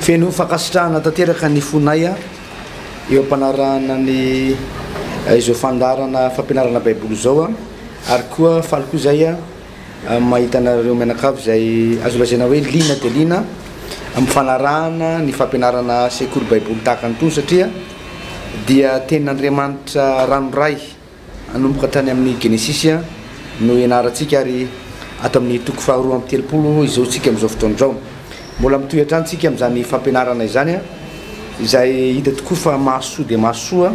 Feno fankasitrahana tanteraka ny fonay eo am-panarahana ny izao fandaharana fampianarana Baiboly izao, ary koa faly koa izay mahita anareo mianakavy izay azo lazaina hoe liana dia liana amin'ny fanarahana ny fampianarana sekoly Baiboly tahaka an'itony, satria dia tenin'Andriamanitra ranoray. Hanomboka tany amin'ny Genesisy no hianarantsika ary ato amin'ny toko faharoa amby telopolo izao isika amin'izao fotoana izao. Mbola mitohy hatrany isika amin'izany fampianarana izany izay hita tokoa fa mahasoa dia mahasoa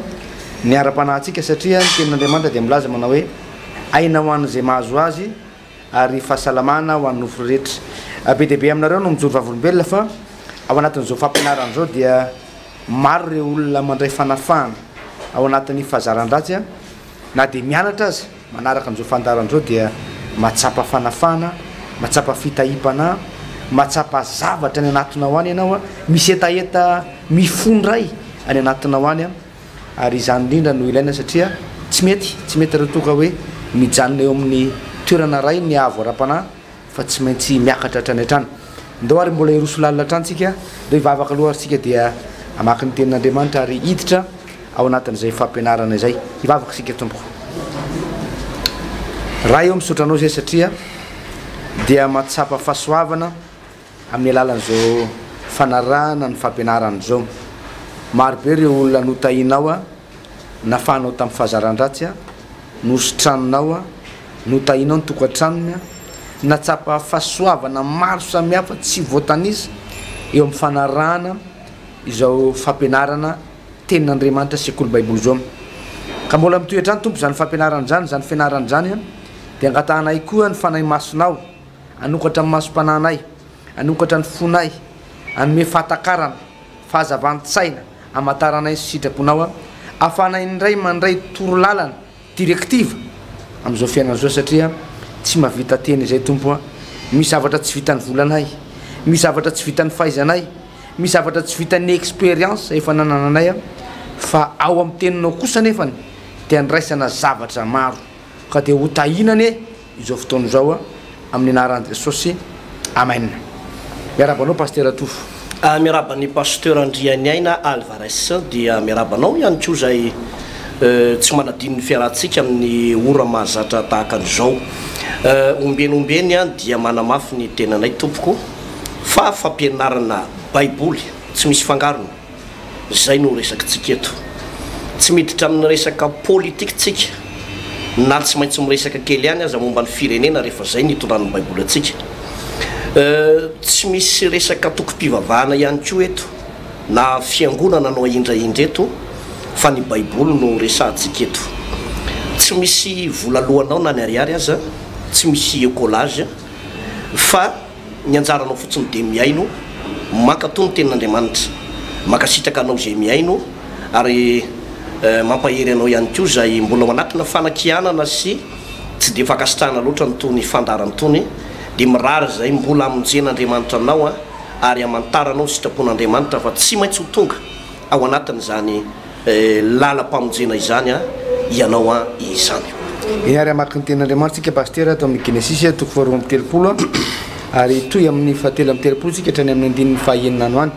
ny ara-panahintsika satria ny Tenin'Andriamanitra dia milaza manao hoe aina ho an'izay mahazo azy. ary fahasalamana ho an'ny nofo rehetra. Be dia be aminareo no mijoro vavolombelona fa ao anatin'izao fampianarana izao dia maro ireo olona mandray fanafahana ao anatin'ny fahazaran-dratsy a! na dia mianatra aza manaraka an'izao fandaharana izao dia mahatsapa fanafahana, mahatsapa fitahiam-panahy, mahatsapa zavatra any anatinao any ianao a! misy hetaheta mifondray any anatinao any a! Ary izany indrindra no ilaina satria tsy mety, tsy mety raha toa ka hoe mijanona eo amin'ny toerana iray ny avo ara-panahy fa tsy maintsy miakatra hatrany hatrany. Ndao ary mbola hiroso lalina hatrany tsika, ndao hivavaka aloha ary tsika dia hamaky ny tenin'Andriamanitra ary hiditra ao anatin'izay fampianarana izay. Hivavaka isika, Tompoko Ray ô misaotra Anao izay satria dia mahatsapa fahasoavana, Amin'ny alalan'izao fanarahana ny fampianarana izao, maro be ireo olona notahinao, nafahanao tamin'ny fahazaran-dratsy, nositranonao, notahinao ny tokantranony, natsapa fahasoavana maro samihafa tsy voatanisa eo amin'ny fanarahana izao fampianarana Tenin'Andriamanitra Sekoly Baiboly izao. Ka mbola mitohy hatrany Tompo izany fampianarana izany, izany fianarana izany, dia angatahanay koa ny Fanahy Masinao. Hanokatra ny masom-panahinay, hanokatra ny fonay, hanome fahatakarana, fahazavan-tsaina, hamantaranay ny sitraponao, ahafahanay indray mandray torolalana, directive, amin'izao fiainana izao satria tsy mahavita teny izay Tompo a! misy zavatra tsy vitan'ny volanay, misy zavatra tsy vitan'ny fahaizanay, misy zavatra tsy vitan'ny expérience efa nanananay a! fa ao amin'ny teninao kosa anefany dia andraisana zavatra maro ka dia ho tahiana anie izao fotoana izao amin'ny anaran'i Jesosy Amen. Miarahaba anao Pasitera Tofo. Ah, miarahaba an'i Pasteur Andrianiaina Alvarez, dia miarahaba anao ihany koa izay tsy manadino ny fiarahantsika amin'ny ora mahazatra tahaka an'izao. Eh, ombieny ombieny an, dia manamafy ny tenanay tompoko fa fampianarana baiboly tsy misy fangarony. Izay no resakintsika eto. Tsy miditra amin'ny resaka politika isika, na tsy maintsy miresaka kely ihany aza momba ny firenena rehefa izay no itondran'ny Baiboly antsika. Tsy misy resaka antokom-pivavahana ihany koa eto, na fiangonana no ahindrahindra eto, fa ny Baiboly no resahantsika eto. Tsy misy vola loanao na ny ariary aza, tsy misy ecolage, fa. Ny anjaranao fotsiny dia mihaino, mankatò ny tenin'Andriamanitra, mankasitraka anao izay mihaino, ary mampahery anao ihany koa izay mbola ao anatina fanakianana sy tsy dia fankasitrahana loatra an'itony fandaharana itony, dia mirary izay mbola hamonjen'Andriamanitra anao ary hamantaranao ny sitrapon'Andriamanitra fa tsy maintsy ho tonga ao anatin'izany Eh lalam-pamonjena izany an ianao an izany. Eny ary hamaky ny tenin'Andriamanitra tsika Pasitera ato amin'ny Genesisy toko faharoa amby telopolo an, ary hitohy amin'ny fahatelo amby telopolo tsika hatrany amin'ny andininy fahaenina ano any.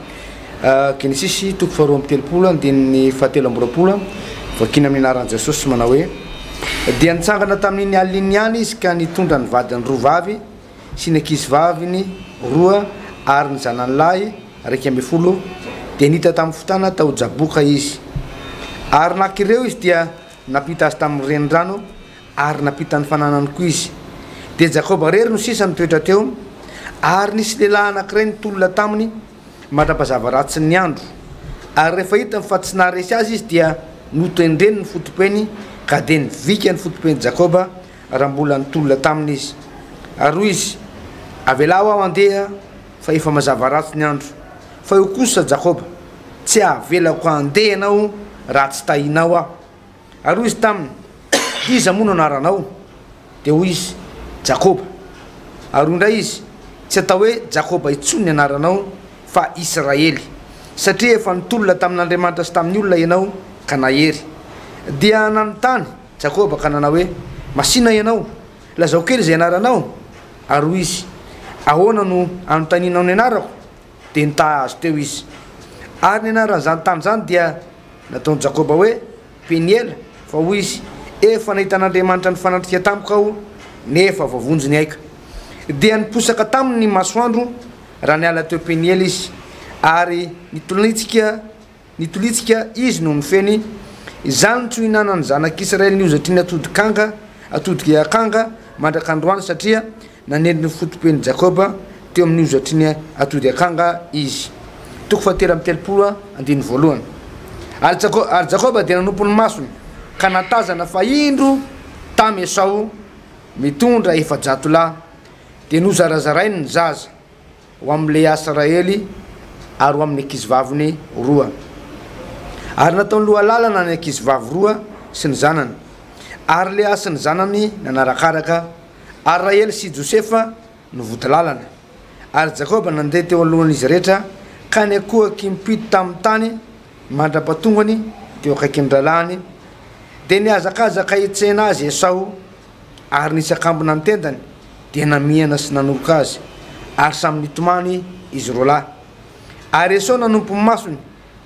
Genesisy toko faharoa amby telopolo andininy fahatelo amby roapolo an, vakiana amin'ny anaran'i Jesosy manao hoe, Dia nitsangana tamin'iny alina iny ihany izy ka nitondra ny vadiny roa vavy, sy ny ankizivaviny roa ary ny zanany lahy iraika ambin'ny folo dia nita tamin'ny fotana tao Jaboka izy. Ary naka ireo izy dia nampita azy tamin'ny renirano ary nampita ny fananany koa izy. Dia Jakoba irery no sisa nitoetra teo ary nisy lehilahy anankiray nitolona taminy mandra-pazava ratsin'ny andro. Ary rehefa hitany fa tsy naharesy azy izy dia notendreny ny foto-peny ka dia nivika ny foto-pen'i Jakoba raha mbola nitolona taminy izy. Ary hoy izy, Avelao aho handeha, fa efa mazava ratsy ny andro. Fa eo kosa Jakoba, Tsy havelako handeha ianao raha tsy tahinao aho. Ary hoy izy taminy, Iza moa no anaranao? Dia hoy izy, Jakoba. Ary hoy indray izy, Tsy atao hoe Jakoba intsony ny anaranao, fa Israely, satria efa nitolona tamin'Andriamanitra sy tamin'ny olona ianao, ka nahery. Dia nanontany Jakoba ka nanao hoe, Masìna ianao, lazao kely izay anaranao. Ary hoy izy, Ahoana no anontanianao ny anarako? Dia nitaha azy teo izy. Ary ny anaran'izany tany izany dia nataon'i Jakoba hoe, Peniela, fa hoy izy, Efa nahita an'Andriamanitra nifanatrika tamiko aho, nefa voavonjy ny aiko. Dia niposaka taminy ny masoandro raha niala teo Peniela izy, ary nitolonitsika Nitolitsika izy noho ny feny, izany no tsy nihinanan'ny zanak'Israely ny hozatry ny atodik'anga, atodik'i akanga, mandrak'androany, satria nanely ny foto-pen'i Jakoba teo amin'ny hozatry ny atody akanga izy. Toko fahatelo amby telopolo, andininy voalohany. Ary Jako, ary Jakoba dia nanompo ny masony, ka nahatazana fa indro tamy Esao mitondra efajato lahy, dia nozarazarainy ny zaza. ho amin'i Lea sy Rahely ary ho amin'ny ankizivaviny roa. Ary nataony lohalalana ny ankizivavy roa sy ny zanany, ary Lea sy ny zanany nanarakaraka, ary Rahely sy Josefa no vodilalana. Ary Jakoba nandeha teo alohan'izy rehetra ka niankohoky mpito tamin'ny tany mandra-patongany teo akaikin'ny rahalahiny, dia nihazakazaka hitsena azy Esao, ary nisakambina ny tendany. dia namihana sy nanoroka azy, ary samy nitomany izy roalahy. Ary Esao nanompo ny masony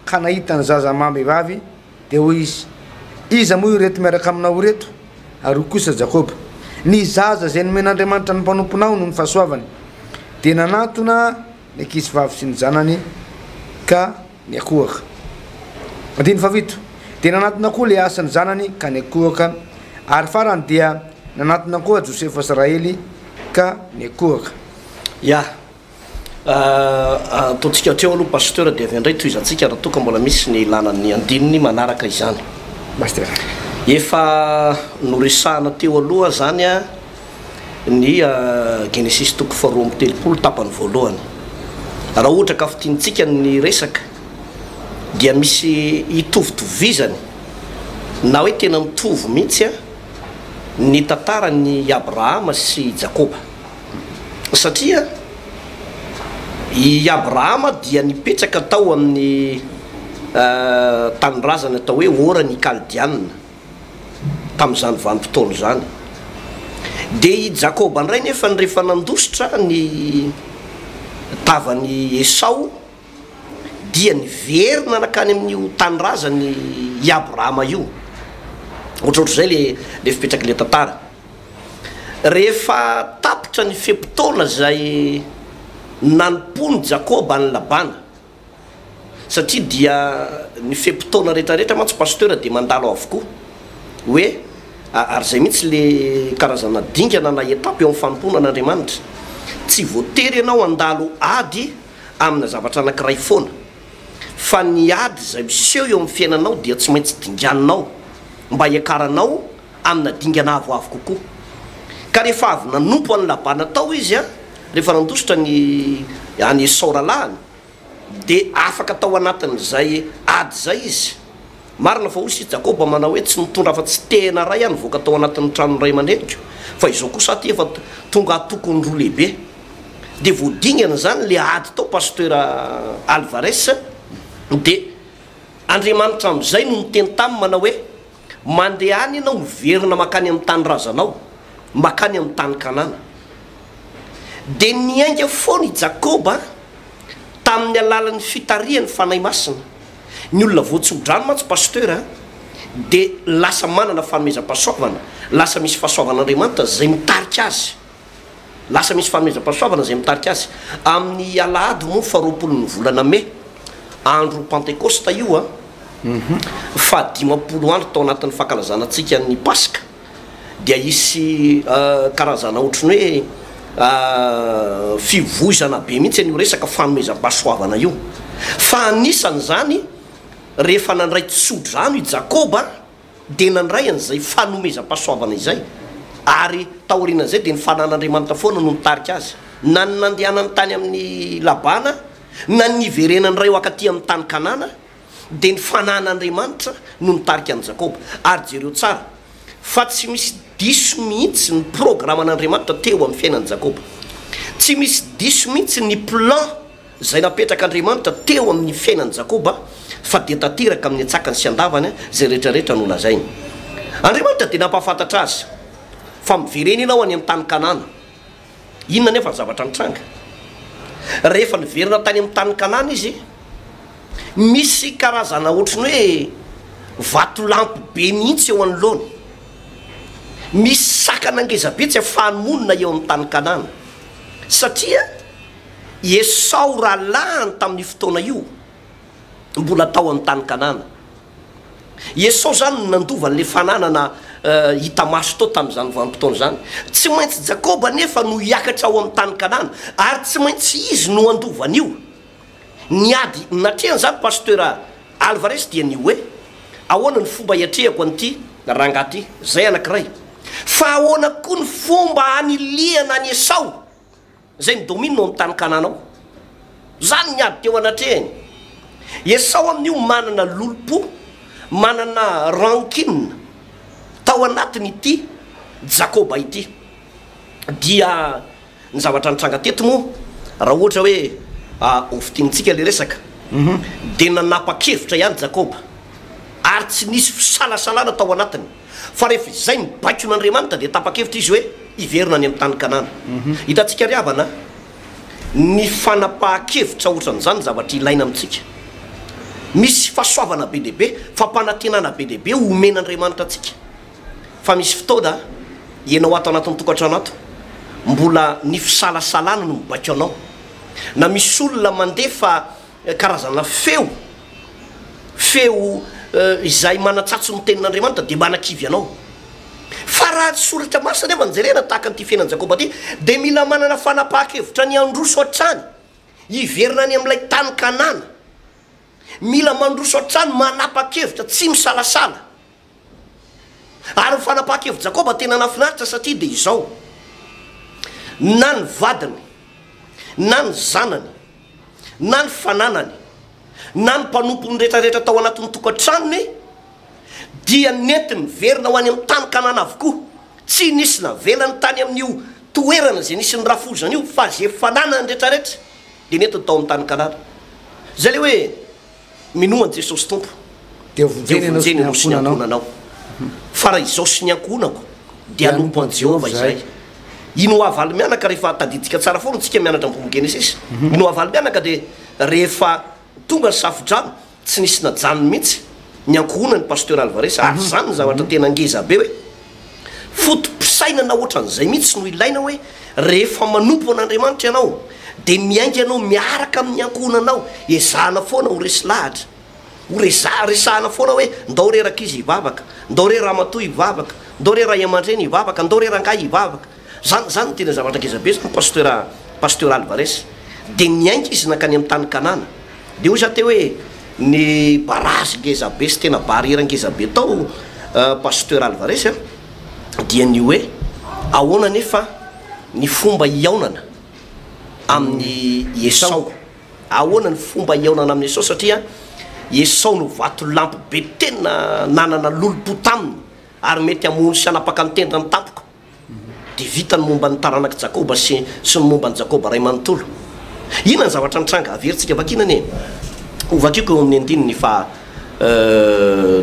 ka nahita ny zaza amam-behivavy, dia hoy izy, Iza moa ireto miaraka aminao ireto? Ary hoy kosa Jakoba, Ny zaza izay nomen'Andriamanitra ny mpanomponao no ny fahasoavany. Dia nanantona ny ankizivavy sy ny zanany ka. Ny akohaka. Andininy fahafito. Dia nanatona koa Leasy ny zanany ka niakohaka, ary farany dia nanatona koa Josefa sy Rahely ka niakohaka. Ya, ataontsika hatreo aloha Pasteur dia avy eo indray tohizantsika raha toa ka mbola misy ny ilana ny andininy manaraka izany. Pasteur. Efa noresahana teo aloha izany ny Genesisy toko faharoa amby telopolo tapany voalohany. Raha ohatra ka fintinitsika ny resaka dia misy hitovitovizany na hoe tena mitovy mihitsy an ny tantaran'i Abrahama sy i Jakoba. Satria i Abrahama dia nipetraka tao amin'ny tanindrazana atao hoe Oran' i Kaldiana. tamin'izany vanim-potoana izany. Dia i Jakoba indray nefany rehefa nandositra ny tavan'i Esao dia niverina nankany amin'io tanindrazany i Abrahama io. Ohatrohatr'izay le le fipetrak'ilay tantara. Rehefa tapitra ny fe-potoana izay nanompoan'i Jakoba an'i Labana. satria dia ny fe-potoana rehetra rehetra mantsy pasteur dia mandalo avokoa hoe ary izay mihitsy le karazana dingana na étape eo amin'ny fanompoana an'Andriamanitra tsy voatery ianao handalo ady amina zavatra anankiray foana fa ny ady izay miseho eo amin'ny fiainanao dia tsy maintsy dinganinao mba hiakaranao amina dingana avoavo kokoa. Ka rehefa avy nanompo an'i Labana tao izy, rehefa nandositra ny an'i Esao rahalahiny, dia afaka tao anatin'izay ady izay izy. Marina fa hoy isika, Jakoba manao hoe, Tsy nitondra afa-tsy tehina iray aho nivoaka tao anatin'ny tranon'ny ray aman-dreniko, fa izao kosa aho ity efa tonga antokony roa lehibe. Dia vao dingana izany ilay ady tao, Pasteur Álvarez, dia Andriamanitra amin'izay no niteny taminy manao hoe, Mandeha any ianao miverina mankany amin'ny tanindrazanao, mankany amin'ny tany Kanana. Dia niainga foana i Jakoba tamin'ny alalan'ny fitarihan'ny Fanahy Masina. Ny olona voatsodrano mantsy Pasteur a, dia lasa manana fanomezam-pahasoavana, lasa misy fahasoavan'Andriamanitra izay mitarika azy. Lasa misy fanomezam-pahasoavana izay mitarika azy. Amin'ny alahady moa faharoapolon'ny volana mey, andro Pantekosta io an, fahadimampolo andro tao anatin'ny fankalazana antsika ny Paska, dia hisy karazana ohatran'ny hoe fivoizana be mihitsy an'io resaka fanomezam-pahasoavana io. Fa anisan'izany, rehefa nandray tsodrano i Jakoba, dia nandray an'izay fanomezam-pahasoavana izay, ary taorian'izay dia ny fananan'Andriamanitra foana no nitarika azy na ny nandehanany tany amin'i Labana na ny niverenany indray ho ankaty amin'ny tany Kanana, dia ny fananan'Andriamanitra no nitarika an'i Jakoba. Ary jereo tsara fa tsy misy diso mihitsy ny programan'Andriamanitra teo amin'ny fiainan'i Jakoba. Tsy misy diso mihitsy ny plan. izay napetrak'Andriamanitra teo amin'ny fiainan'i Jakoba, fa dia tanteraka amin'ny an-tsakany sy an-davany izay rehetrarehetra nolazainy. Andriamanitra dia nampahafantatra azy fa miverena ianao any amin'ny tany Kanana. Inona anefa ny zavatra nitranga? Rehefa niverina tany amin'ny tany Kanana izy, misy karazana ohatry ny hoe vatolampy be mihitsy eo anoloany. Misy sakana ngezabe tsy afahany monina eo amin'ny tany Kanana, satria. I Esao rahalahiny tamin'io fotoana io mbola tao amin'ny tany Kanana. I Esao izany no nandova an'ilay fananana hita maso tao tamin'izany vanim-potoana izany. Tsy maintsy Jakoba anefa no hiakatra ho amin'ny tany Kanana, ary tsy maintsy izy no handova an'io. Ny ady natrehan'izany Pasteur Alvarez dia ny hoe, Ahoana ny fomba hiatrehako an'ity rangahy ity? Izay anankiray. Fa ahoana koa ny fomba hanilihana an'i Esao? Izay midomina ao amin'ny tany Kanana ao. Izany ny ady teo anatrehany. Esao amin'io manana lolompo, manana rancune tao anatin'ity Jakoba ity. Dia ny zavatra nitranga teto moa, raha ohatra hoe hofintinintsika ilay resaka, dia nanapa-kevitra ihany Jakoba, ary tsy nisy fisalasalana tao anatiny. Fa rehefa izay ny baikon'Andriamanitra dia tapa-kevitra izy hoe hiverina any amin'ny tany Kanana. Hitantsika ry havana ny fanapahan-kevitra hoatran'izany ny zavatra ilaina amintsika. Misy fahasoavana be dia be, fampanantenana be dia be omen'Andriamanitra antsika. Fa misy fotoana ianao ato anatin'ny tokantrano ato, mbola ny fisalasalana no mibaiko anao. Na misy olona mandefa Karazana feo, feo izay manatsatso ny tenin'Andriamanitra dia manakivy anao. Fa raha ny Soratra Masina anefa no jerena, tahaka an'ity fiainan'i Jakoba ity, dia mila manana fanapahan-kevitra ny handroso hatrany, hiverina any amin'ilay tany Kanana. Mila mandroso hatrany, manapa-kevitra, tsy misalasala. Ary ny fanapahan-kevitr'i Jakoba tena nahafinaritra satria dia izao, Na ny vadiny, na ny zanany, na ny fananany, na ny mpanompony rehetrarehetra tao anatin'ny tokantranony dia nentiny niverina ho any amin'ny tany Kanana avokoa. Tsy nisy navelany tany amin'io toerana izay nisy ny rafozana io, fa izay fananany rehetrarehetra dia nentiny tao amin'ny tany Kanana. Izay ilay hoe. Minoa an'i Jesosy Tompo, dia vonjeny ianao sy ny ankohonanao. Fa raha izaho sy ny ankohonako dia hanompo an'i Jehovah izahay. Ino ho havaly mianaka rehefa, tadidintsika tsara foana isika mianatra ny bokin'i Genesisy, ino ho havaly mianaka dia rehefa tonga ny safodrano, tsy nisy najanony mihitsy ny ankohonan'i Pasteur Alvarez, ary izany ny zavatra tena ngeza be hoe, Foto-pisainana ohatran'izay mihitsy no ilaina hoe rehefa manompo an'Andriamanitra ianao dia miainga ianao miaraka amin'ny ankohonanao, ezahana foana ho resy lahatra, ho resaha, resahana foana hoe ndao re rankizy hivavaka, ndao re ramatoa hivavaka, ndao re ray aman-dreny hivavaka, ndao re rangahy hivavaka. Zany zany tena zavatra ngeza be zany pasteur pasteur Alvarez de niainga izy nankany am tany kanana de hoy za teo hoe ny barazy ngeza be sy tena barrière ngeza be tao pasteur Alvarez a dia ny hoe ahoana anefa ny fomba hihaonana aminy Esao ahoana ny fomba hihaonana aminy Esao satria Esao no vatolampy be tena nanana lolompo taminy ary mety hamono sy hanapaka ny tendrony tampoka. Dia vita ny momba ny taranak'i Jakoba sy ny momba an'i Jakoba ray manontolo. Inona ny zavatra nitranga? Averintsika vakina anie. Hovakiko eo amin'ny andininy faha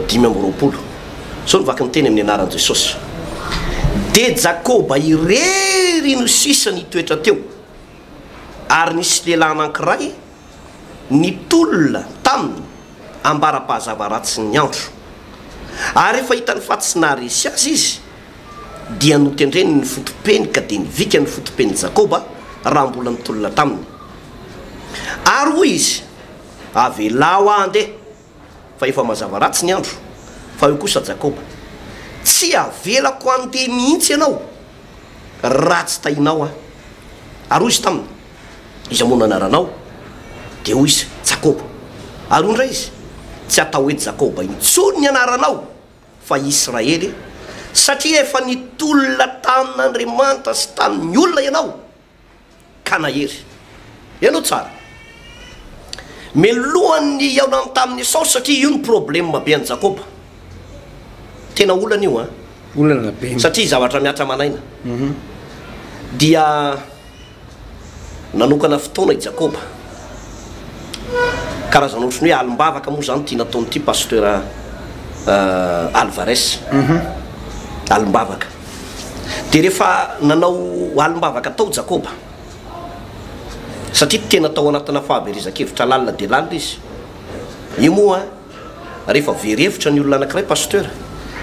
dimy amby roapolo. Izao no vaky ny teny amin'ny anaran'i Jesosy, Dia Jakoba irery no sisa nitoetra teo, ary nisy lehilahy anankiray nitolona taminy ambara-pahazava ratsy ny andro. Ary rehefa hitany fa tsy naharesy azy izy, dia notendreny ny foto-peny ka dia nivika ny foto-pen'i Jakoba raha mbola nitolona taminy. Ary hoy izy, Avelao aho handeha, fa efa mazava ratsy ny andro. Fa hoy kosa Jakoba, Tsy havelako handeha mihitsy ianao raha tsy tahinao aho. Ary hoy izy taminy, Iza moa no anaranao? Dia hoy izy, Jakoba. Ary hoy indray izy, Tsy hatao hoe Jakoba intsony ny anaranao, fa i Israely, satria efa nitolona tamin'Andriamanitra sy tamin'ny olona ianao, ka nahery. Henoy tsara. Melohany ny hihaonany tamin'i Esao, satria io no problema be an'i Jakoba. Tena olana io an! Olana be. Satria zavatra mihatra aman'aina. Dia. Nanokana fotoana i Jakoba. Karazana ohatran'ny hoe alim-bavaka moa izany ity nataon'ity Pasteur Alvarez. Alim-bavaka. Dia rehefa nanao alim-bavaka tao Jakoba, satria tena tao anatina fahaverezan-kevitra lalina dia lalina izy, io moa, Rehefa very hevitra ny olona anankiray Pasteur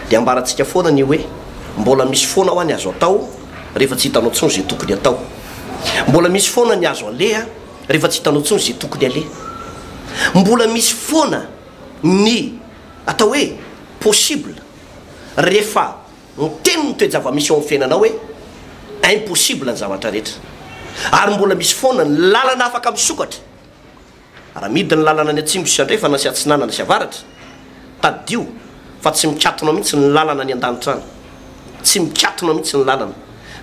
dia ambarantsika foana ny hoe mbola misy foana hoa ny azo atao rehefa tsy hitanao tsony ze tokony atao. Mbola misy foana ny azo aleha rehefa tsy hitanao tsony ze tokony aleha. Mbola misy foana ny atao hoe possible rehefa miteny ny toe-javamisy eo am fiainanao hoe impossible ny zavatra rehetra. Ary mbola misy foana ny lalana afaka misokatra. Raha midina ny lalana any atsimo sy andrefana sy atsinanana sy avaratra, tadidio fa tsy mikatona mihitsy ny lalana any an-danitra any. Tsy mikatona mihitsy ny lalana.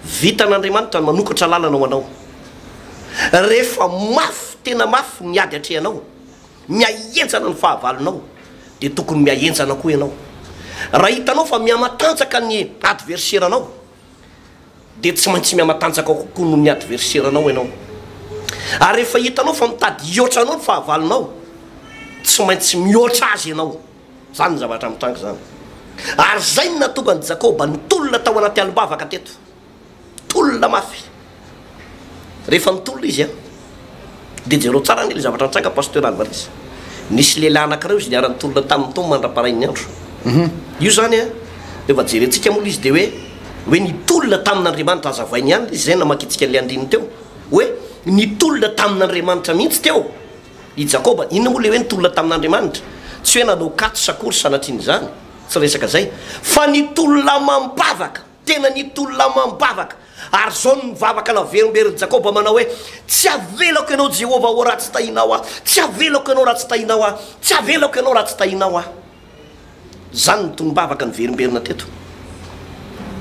Vitan'Andriamanitra ny manokatra lalana ho anao. Rehefa mafy, tena mafy ny ady atrehanao, mihahenjana ny fahavalonao, dia tokony mihahenjana koa ianao. Raha hitanao fa mihamatanjaka ny adverseranao, dia tsy maintsy mihamatanjaka kokoa noho ny adverseranao ianao. Ary rehefa hitanao fa mitady hihoatra anao ny fahavalonao, tsy maintsy mihoatra azy ianao. Izany ny zavatra mitranga izany. Ary izay no nahatonga an'i Jakoba nitolona tao anaty alim-bavaka teto. Tolona mafy. Rehefa mitolona izy an, dia jereo tsara anie ilay zavatra nitranga Pasteur Alvarez. Nisy lehilahy anankiray hozy niara nitolona taminy tao mandra-parain'ny andro. Io zany an, dia efa jerentsika moa ilay izy dia hoe, hoe nitolona tamin'Andriamanitra. Azavainy ihany ilay izy izay namakintsika an'ilay andininy teo. Hoe nitolona tamin'Andriamanitra mihitsy teo i Jakoba. Inona moa ilay hoe nitolona tamin'Andriamanitra? Tsy hoe nanao katso s'akory sanatrian'izany, tsy resaka izay. Fa nitolona amam-bavaka. Tena nitolona amam-bavaka. Ary izao no nivavaka naverimberin'i Jakoba, manao hoe, Tsy havelako ianao Jehovah ô, raha tsy tahinao ahy, tsy havelako ianao raha tsy tahinao ahy, tsy havelako ianao raha tsy tahinao ahy. Izany no tonom-bavaka niverimberina teto.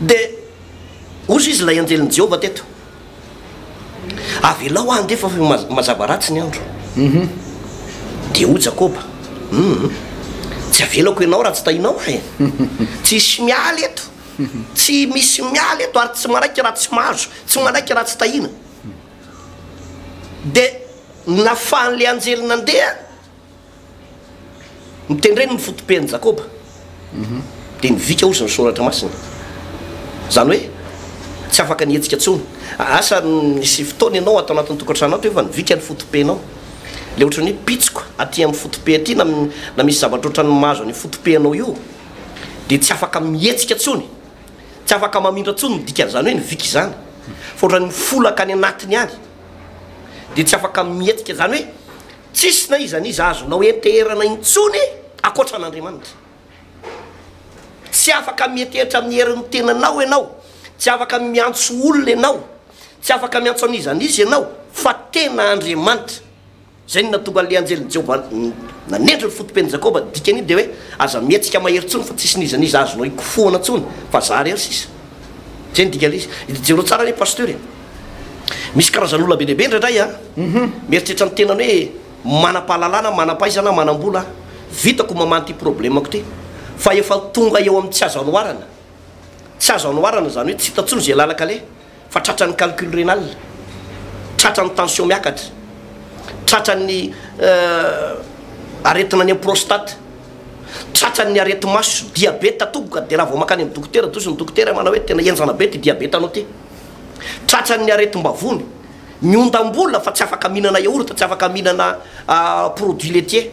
Dia hozy izy ilay anjelin'i Jehovah teto, Avelao aho handeha fa efa mazava ratsy ny andro. Dia hoy Jakoba, Humm, tsy havelako ianao raha tsy tahinao ahy e. Tsy hisy miala eto. Tsy misy miala eto ary tsy manaiky raha tsy mahazo, tsy manaiky raha tsy tahiana. Dia nafahan'ilay anjely nandeha mitendreny ny foto-pen'i Jakoba, dia nivika ozy ny soratra masina. Izany hoe tsy afaka nihetsika intsony. Asa nisy fotoana ianao ato anatin'ny tokantranonao teo fa nivika ny foto-penao. Ilay ohatran'ny hoe pitsiko aty amin'ny foto-pe aty na misy zavatra ohatran'ny mahazo an'io foto-pe anao io. dia tsy afaka mihetsika intsony, tsy afaka mamindra intsony ny dikan'izany hoe ny vika izany, fa ohatran'ny mifolaka any anatiny any, dia tsy afaka mihetsika, izany hoe tsisy na iza na iza azonao henteherana intsony ankoatra an'Andriamanitra. Tsy afaka mihetehitra amin'ny herin'ny tenanao ianao, tsy afaka miantso olona ianao, tsy afaka miantso an'iza na iza ianao fa tena Andriamanitra. Izay no nahatonga an'ilay anjelin'i Jehovah nanendry ny foto-pen'i Jakoba. Ny dikan'io dia hoe, Aza mihetsika mahery intsony, fa tsisy n'iza n'iza azonao ikofohana intsony, fa izaho irery sisa. Izay no dikan'ilay izy. Jereo tsara anie Pasteur e! Misy karazan'olona be dia be indraindray an! Mieritreritra ny tenany hoe, Manam-pahalalana, manam-pahaizana, manam-bola aho. Vitako ny mamaha an'ity problemako ity. Fa efa tonga eo amin'ny tsy azo anoharana. Tsy azo anoharana, izany hoe tsy hita intsony izay làlan-kaleha. Fa tratran'ny calcul rénal, tratran'ny tension miakatra, tratran'ny aretina any amin'ny prostate, tratran'ny areti-maso, diabeta tompoko dia raha vao mankany amin'ny dokotera toa izy ny dokotera manao hoe tena henjana be ity diabeta anao ity. Tratran'ny aretim-bavony, ny ondam-bola fa tsy afaka mihinana yaourt, tsy afaka mihinana produits laitiers,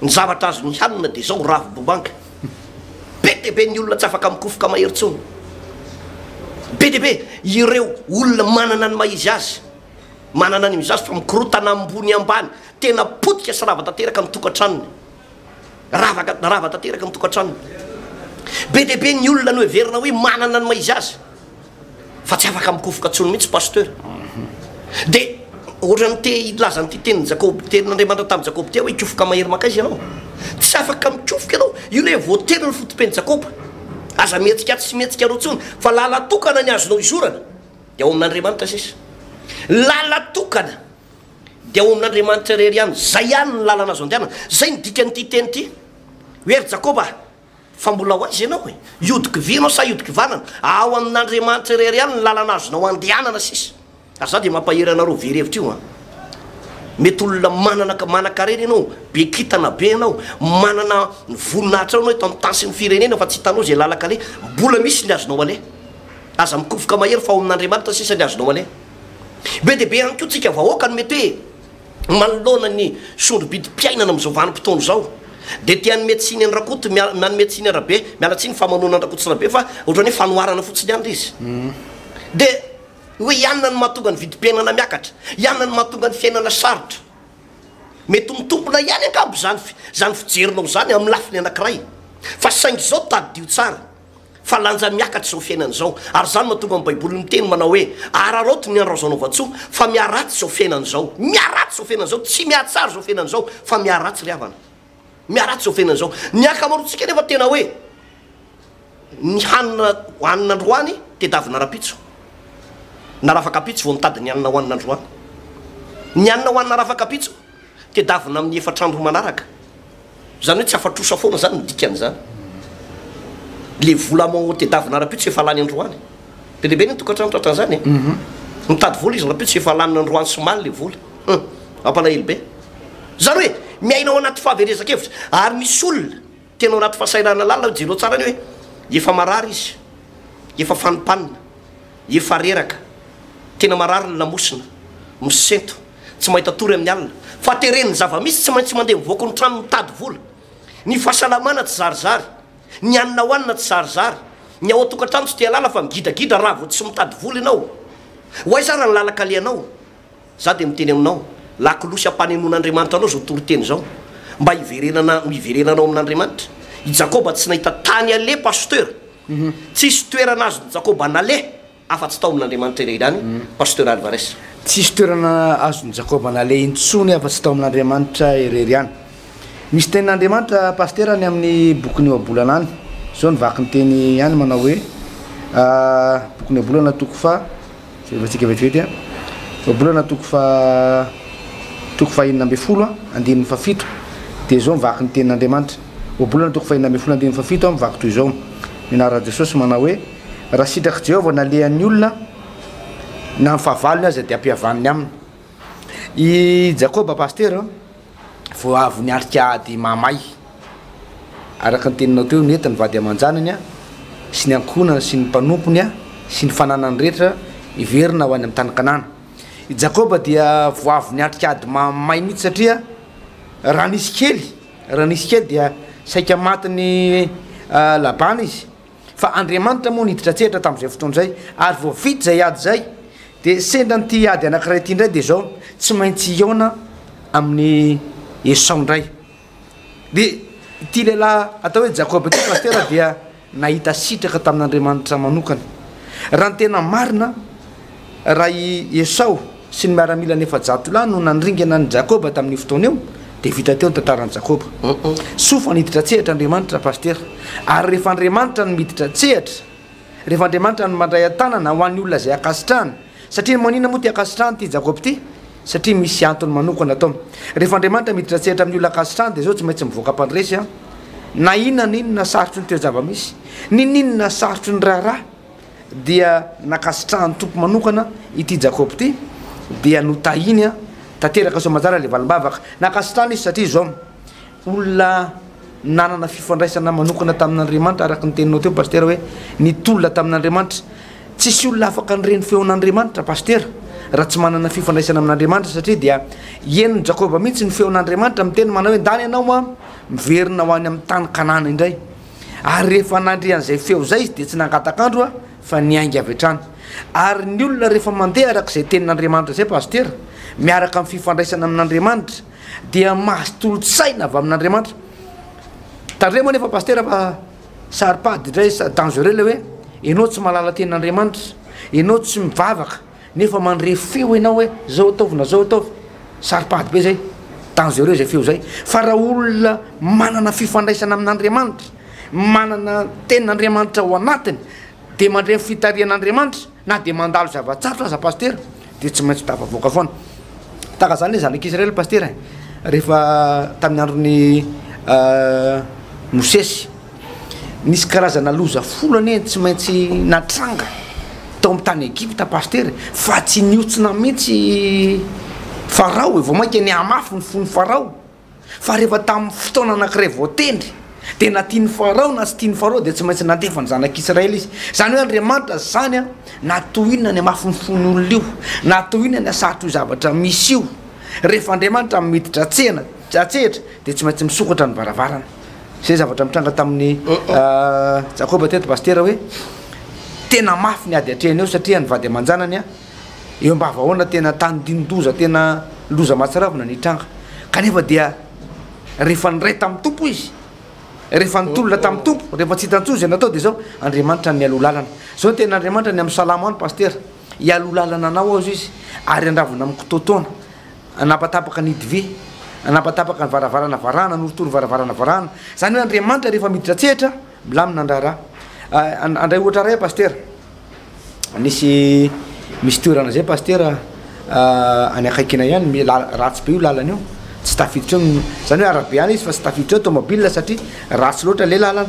ny zavatra azony hanina dia izao, ravi-bomanga. Be dia be ny olona tsy afaka mikofoka mahery intsony. Be dia be ireo olona manana ny maha-izy azy, manana ny azy fa mikorotana ambony ambany. Tena potika sy rava tanteraka ny tokantranony. Rava rava tanteraka ny tokantranony. Be dia be ny olona noheverina hoe manana ny maha-izy azy. fa tsy afaka mikofoka tsony mihitsy pasteur de ohatrany te hilaza an'ity tenin'i Jakoba tenin'Andriamanitra tamin'i Jakoba tia hoe hikofoka mahery makaiza ianao tsy afaka mikofoka ianao io le voatery ny fotopen'i Jakoba aza mihetsika tsy mihetsika roa tsony fa lala tokana ny azonao izorana de ao amin'Andriamanitra sisa lala tokana de ao amin'Andriamanitra irery ihany zay ihany ny lalana azo andehanana zay ny dikan'ity teny ity hoe ry Jakoba Fa mbola ho aiza ianao e? Hiodi-kivy ianao sa hiodi-kivanana? Ao amin'Andriamanitra irery ihany ny lalana azonao andehanana sisa. Ary za dia mampahery anareo very hevitra io an! Mety olona manana manan-karena ianao, be kintana be ianao, manana ny voninahitra ao ianao eto amin'ny tany sy ny firenena fa tsy hitanao izay lalan-kaleha. Mbola misy ny azonao aleha. Aza mikofoka mahery fa ao amin'Andriamanitra sisa ny azonao aleha. Be dia be ihany koa tsika vahoaka no mety hoe. Manoloana ny sondro-bidim-piainana amin'izao vanim-potoana izao dia te hanome tsiny an-dRakoto miala nanome tsiny an-dRabe miala tsiny famonoana an-dRakoto sy Rabe fa ohatran'ny hoe fanoharana fotsiny ihany ilay izy dia hoe ianona no mahatonga ny vidim-piainana miakatra ianona no mahatonga ny fiainana sarotra mety ho mitombona ihany angamba izany izany fijerinao izany amin'ny lafiny anankiray fa saingy izao tadidio tsara fa lanja miakatra izao fiainana izao, ary izany mahatonga ny Baiboly miteny manao hoe, Araraoty ny andro azo anaovan-tsoa, fa miharatsy izao fiainana izao. Miharatsy izao fiainana izao, tsy mihatsara izao fiainana izao, fa miharatsy ry havana. Miharatsy izao fiainana izao. Ny ankamaroantsika anefa tena hoe, ny hanina hohanina androany tedavina rahampitso, na rafakampitso vao mitady ny hanina hohanina androany. Ny hanina hohanina rafakampitso Tedavina amin'ny efatra andro manaraka. Izany hoe tsy afa-trosa foana izany ny dikan'izany. Ilay vola amoao tedavina rahampitso tsy efa lany androany. Be dia be ny tokantrano tratran'izany e! Mitady vola izy rahampitso tsy efa laniny androany sy omaly ilay vola. Hum! Mampalahelo be. Izany hoe miaina ao anaty fahaverezan-kevitra. Ary misy olona. Tena ao anaty fahasahiranana lalina aho, jereo tsara ny hoe efa marary izy, efa fanimpanina, efa reraka, tena marary ny lamosina, misento, tsy mahita tory amin'ny alina, fa teren'ny zava-misy tsy maintsy mandeha mivoako ny trano mitady vola, ny fahasalamana tsizarizary, ny hanina hohanina tsizarizary, ny ao an-tokantrano tsy te-halala fa migidagidra raha vao tsy mitady vola ianao, ho aiza ary ny lalan-kalehanao? Za dia miteny aminao, lakolosy ampanenoana Andriamanitra anao izao toriteny izao, mba hiverenana ho iverenanao amin'Andriamanitra. I Jakoba tsy nahita tany haleha Pasteur, tsisy toerana azon'i Jakoba naleha afa-tsy tao amin'Andriamanitra irery ihany Pasteur Alvarez. Tsisy toerana azon'i Jakoba naleha intsony afa-tsy tao amin'Andriamanitra irery ihany. Misy tenin'Andriamanitra Pasteur any amin'ny bokin'ny Ohabolana any, izao ny vaky ny teny any manao hoe, bokin'ny Ohabolana toko faha. Jerevantsika vetivety an! Ohabolana toko faha toko faha enina ambin'ny folo an, andininy faha fito dia izao mivaky ny tenin'Andriamanitra. Ohabolana toko faha enina ambin'ny folo andininy faha fito an, mivaky toy izao ny anaran'i Jesosy manao hoe, Raha sitrak'i Jehovah ny halehan'ny olona na ny fahavalony aza dia ampihavaniny aminy. I Jakoba pasitera Vao avy niatrika ady mahamay, araka ny teninao teo, nety ny vady aman-janany sy ny ankohonany sy ny mpanompony sy ny fananany rehetra hiverina ho any amin'ny tany Kanana. I Jakoba dia vao avy niatrika ady mahamay mihitsy satria raha nisy kely, raha nisy kely dia saika matin'i Labana izy. Fa Andriamanitra moa niditra an-tsehatra tamin'izay fotoana izay, ary vao vita izay ady izay, dia sendra an'ity ady anankiray ity indray, dia izao, tsy maintsy hihaona amin'i Esao indray. Dia ity lehilahy atao hoe Jakoba ity, Pasitera, dia nahita sitraka tamin'Andriamanitra manokana. Raha ny tena marina, raha i Esao sy ny miaramila ny efajato lahy no nandringana an'i Jakoba tamin'io fotoana io, dia vita teo ny tantaran'i Jakoba. Soa fa niditra an-tsehatra Andriamanitra, Pasitera. Ary rehefa Andriamanitra no miditra an-tsehatra, rehefa Andriamanitra no mandray an-tanana ho an'ny olona izay ankasitrahany, satria maninona moa ity ankasitrahany ity Jakoba ity? Satria misy antony manokana atao. Rehefa Andriamanitra miditra an-tsehatra amin'ny olona ankasitrahany dia izao tsy maintsy mivoaka mpandresy an. Na inona na inona sarotry ny toe-java-misy, n'inon'inona sarotry ny raharaha, dia nankasitrahan'ny Tompo manokana ity Jakoba ity, dia notahiny tanteraka soa aman-tsara ilay valim-bavaka. Nankasitrahana izy satria izao, olona nanana fifandraisana manokana tamin'Andriamanitra, araka ny teninao teo Pasitera hoe ny tolona tamin'Andriamanitra. Tsisy olona afaka handre ny feon'Andriamanitra Pasitera raha tsy manana fifandraisana amin'Andriamanitra satria dia henon'i Jakoba mihitsy ny feon'Andriamanitra miteny manao hoe ndany ianao an, miverina ho any amin'ny tany Kanana indray. Ary rehefa nandre an'izay feo izay izy, dia tsy nangataka andro fa niainga avy hatrany. Ary ny olona rehefa mandeha araka izay tenin'Andriamanitra izay, Pasitera, miaraka amin'ny fifandraisana amin'Andriamanitra, dia mahazo tolotsaina avy amin'Andriamanitra. Tandremo anefa Pasitera fa saro-pady indray, dangereux ilay hoe ianao tsy mahalala tenin'Andriamanitra, ianao tsy mivavaka, Nefa mandre feo enao hoe zao ataovy na zao ataovy, saro-pady be zay, dangereux zay feo zay, fa raha olona manana fifandraisana amin'Andriamanitra, manana tenin'Andriamanitra ao anatiny, de mandre ny fitarihan'Andriamanitra, na de mandalo zava-tsarotra aza Pasitera de tsy maintsy tafavoaka foana. Tahaka zany le zanak'Israely Pasitera e, rehefa tamin'ny andron'i Mosesy. Nisy karazana loza folo anie tsy maintsy natranga tao amin'ny tany Egypta Pasteur e, fa tsy nihontsina mihitsy i Farao e, vao mainka nihamafy ny fon'i Farao, fa rehefa tamin'ny fotoana anankiray voatendry dia na tian'i Farao na tsy tian'i Farao dia tsy maintsy nandefa ny zanak'Israely izy, izany hoe Andriamanitra zany an na toy inona nihamafy ny fon'ny olona io, na toy inona nihasarotra io zavatra misy io, rehefa Andriamanitra miditra an-tsehatra dia tsy maintsy misokatra ny varavarana. Zay zavatra nitranga tamin'i Jakoba teto Pasitera hoe tena mafy ny ady atrehiny eo satria ny vady aman-janany eo am-bavahaona tena tandindoza tena loza mahatsiravina nitranga kanefa dia rehefa niray tamin'ny Tompo izy rehefa nitolona tamin'ny Tompo rehefa tsy hitan-tsoa izay natao dia izao Andriamanitra ny mialoha lalana izao ny tena Andriamanitra ny amin'ny salamo any Pasitera hialoha lalana anao aho izao izy ary handravona amin'ny kitoatoana Hanapatapaka ny hidivy, hanapatapaka ny varavarana varahana, hanorotoro varavarana varahana. Izany hoe Andriamanitra rehefa miditra an-tsehatra, milamina ny raharaha. Handray ohatra iray aho Pasitera, nisy misy toerana izay Pasitera any akaikinay any, mi- la- ratsy be io lalana io, tsy tafiditra eo, izany hoe arabe ihany izy fa tsy tafiditra eo tômôbila satria ratsy loatra ilay lalana.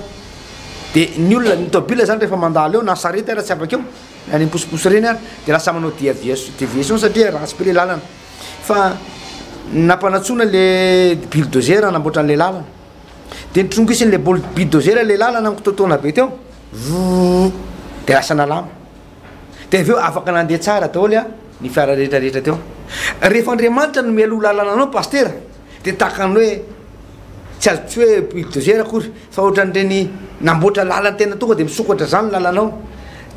Dia ny olona, ny tômôbila izany rehefa mandalo eo na sarety ary tsy afaka eo. Any am posiposy ireny ary dia lasa manao diaviation deviation satria ratsy be le lalana fa nampanatsoina le bulldozer hanamboatra an'le lalana de nitrongisiny le bol- bulldozer le lalana mikitoatoana be teo voo de lasa nalama de avy eo afaka nandeha tsara daholo a ny fiara rehetra rehetra teo rehefa andriamanitra no mialoha lalana anao pasitera Dia tahaka ny hoe tsy azo tsy hoe bulldozer akory fa ohatran'ireny namboatra lalan-tena tonga dia misokatra izany ny lalanao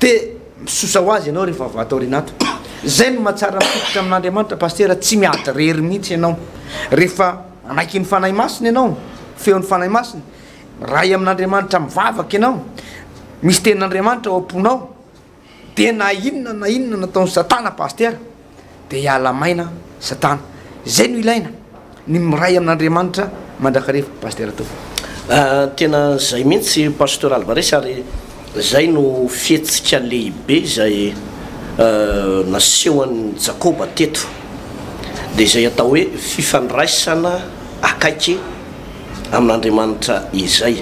dia misosa ho azy ianao rehefa avy ato aoriana ato. Izay no mahatsara ny fototra amin'Andriamanitra Pasitera, tsy miady irery mihitsy ianao rehefa manaiky ny Fanahy Masina ianao, feon'ny Fanahy Masina, miray amin'Andriamanitra mivavaka ianao, misy tenin'Andriamanitra ao am-ponao. de na inona na inona nataony satana pastera de hiala maina satana zay no ilaina ny miray amin'Andriamanitra mandrakareva pastera toa. Tena zay mintsy Pasteur Alvarez ary zay no fihetsika lehibe izay nasehon'i Jakoba teto dia izay atao hoe fifandraisana akaiky amin'Andriamanitra izay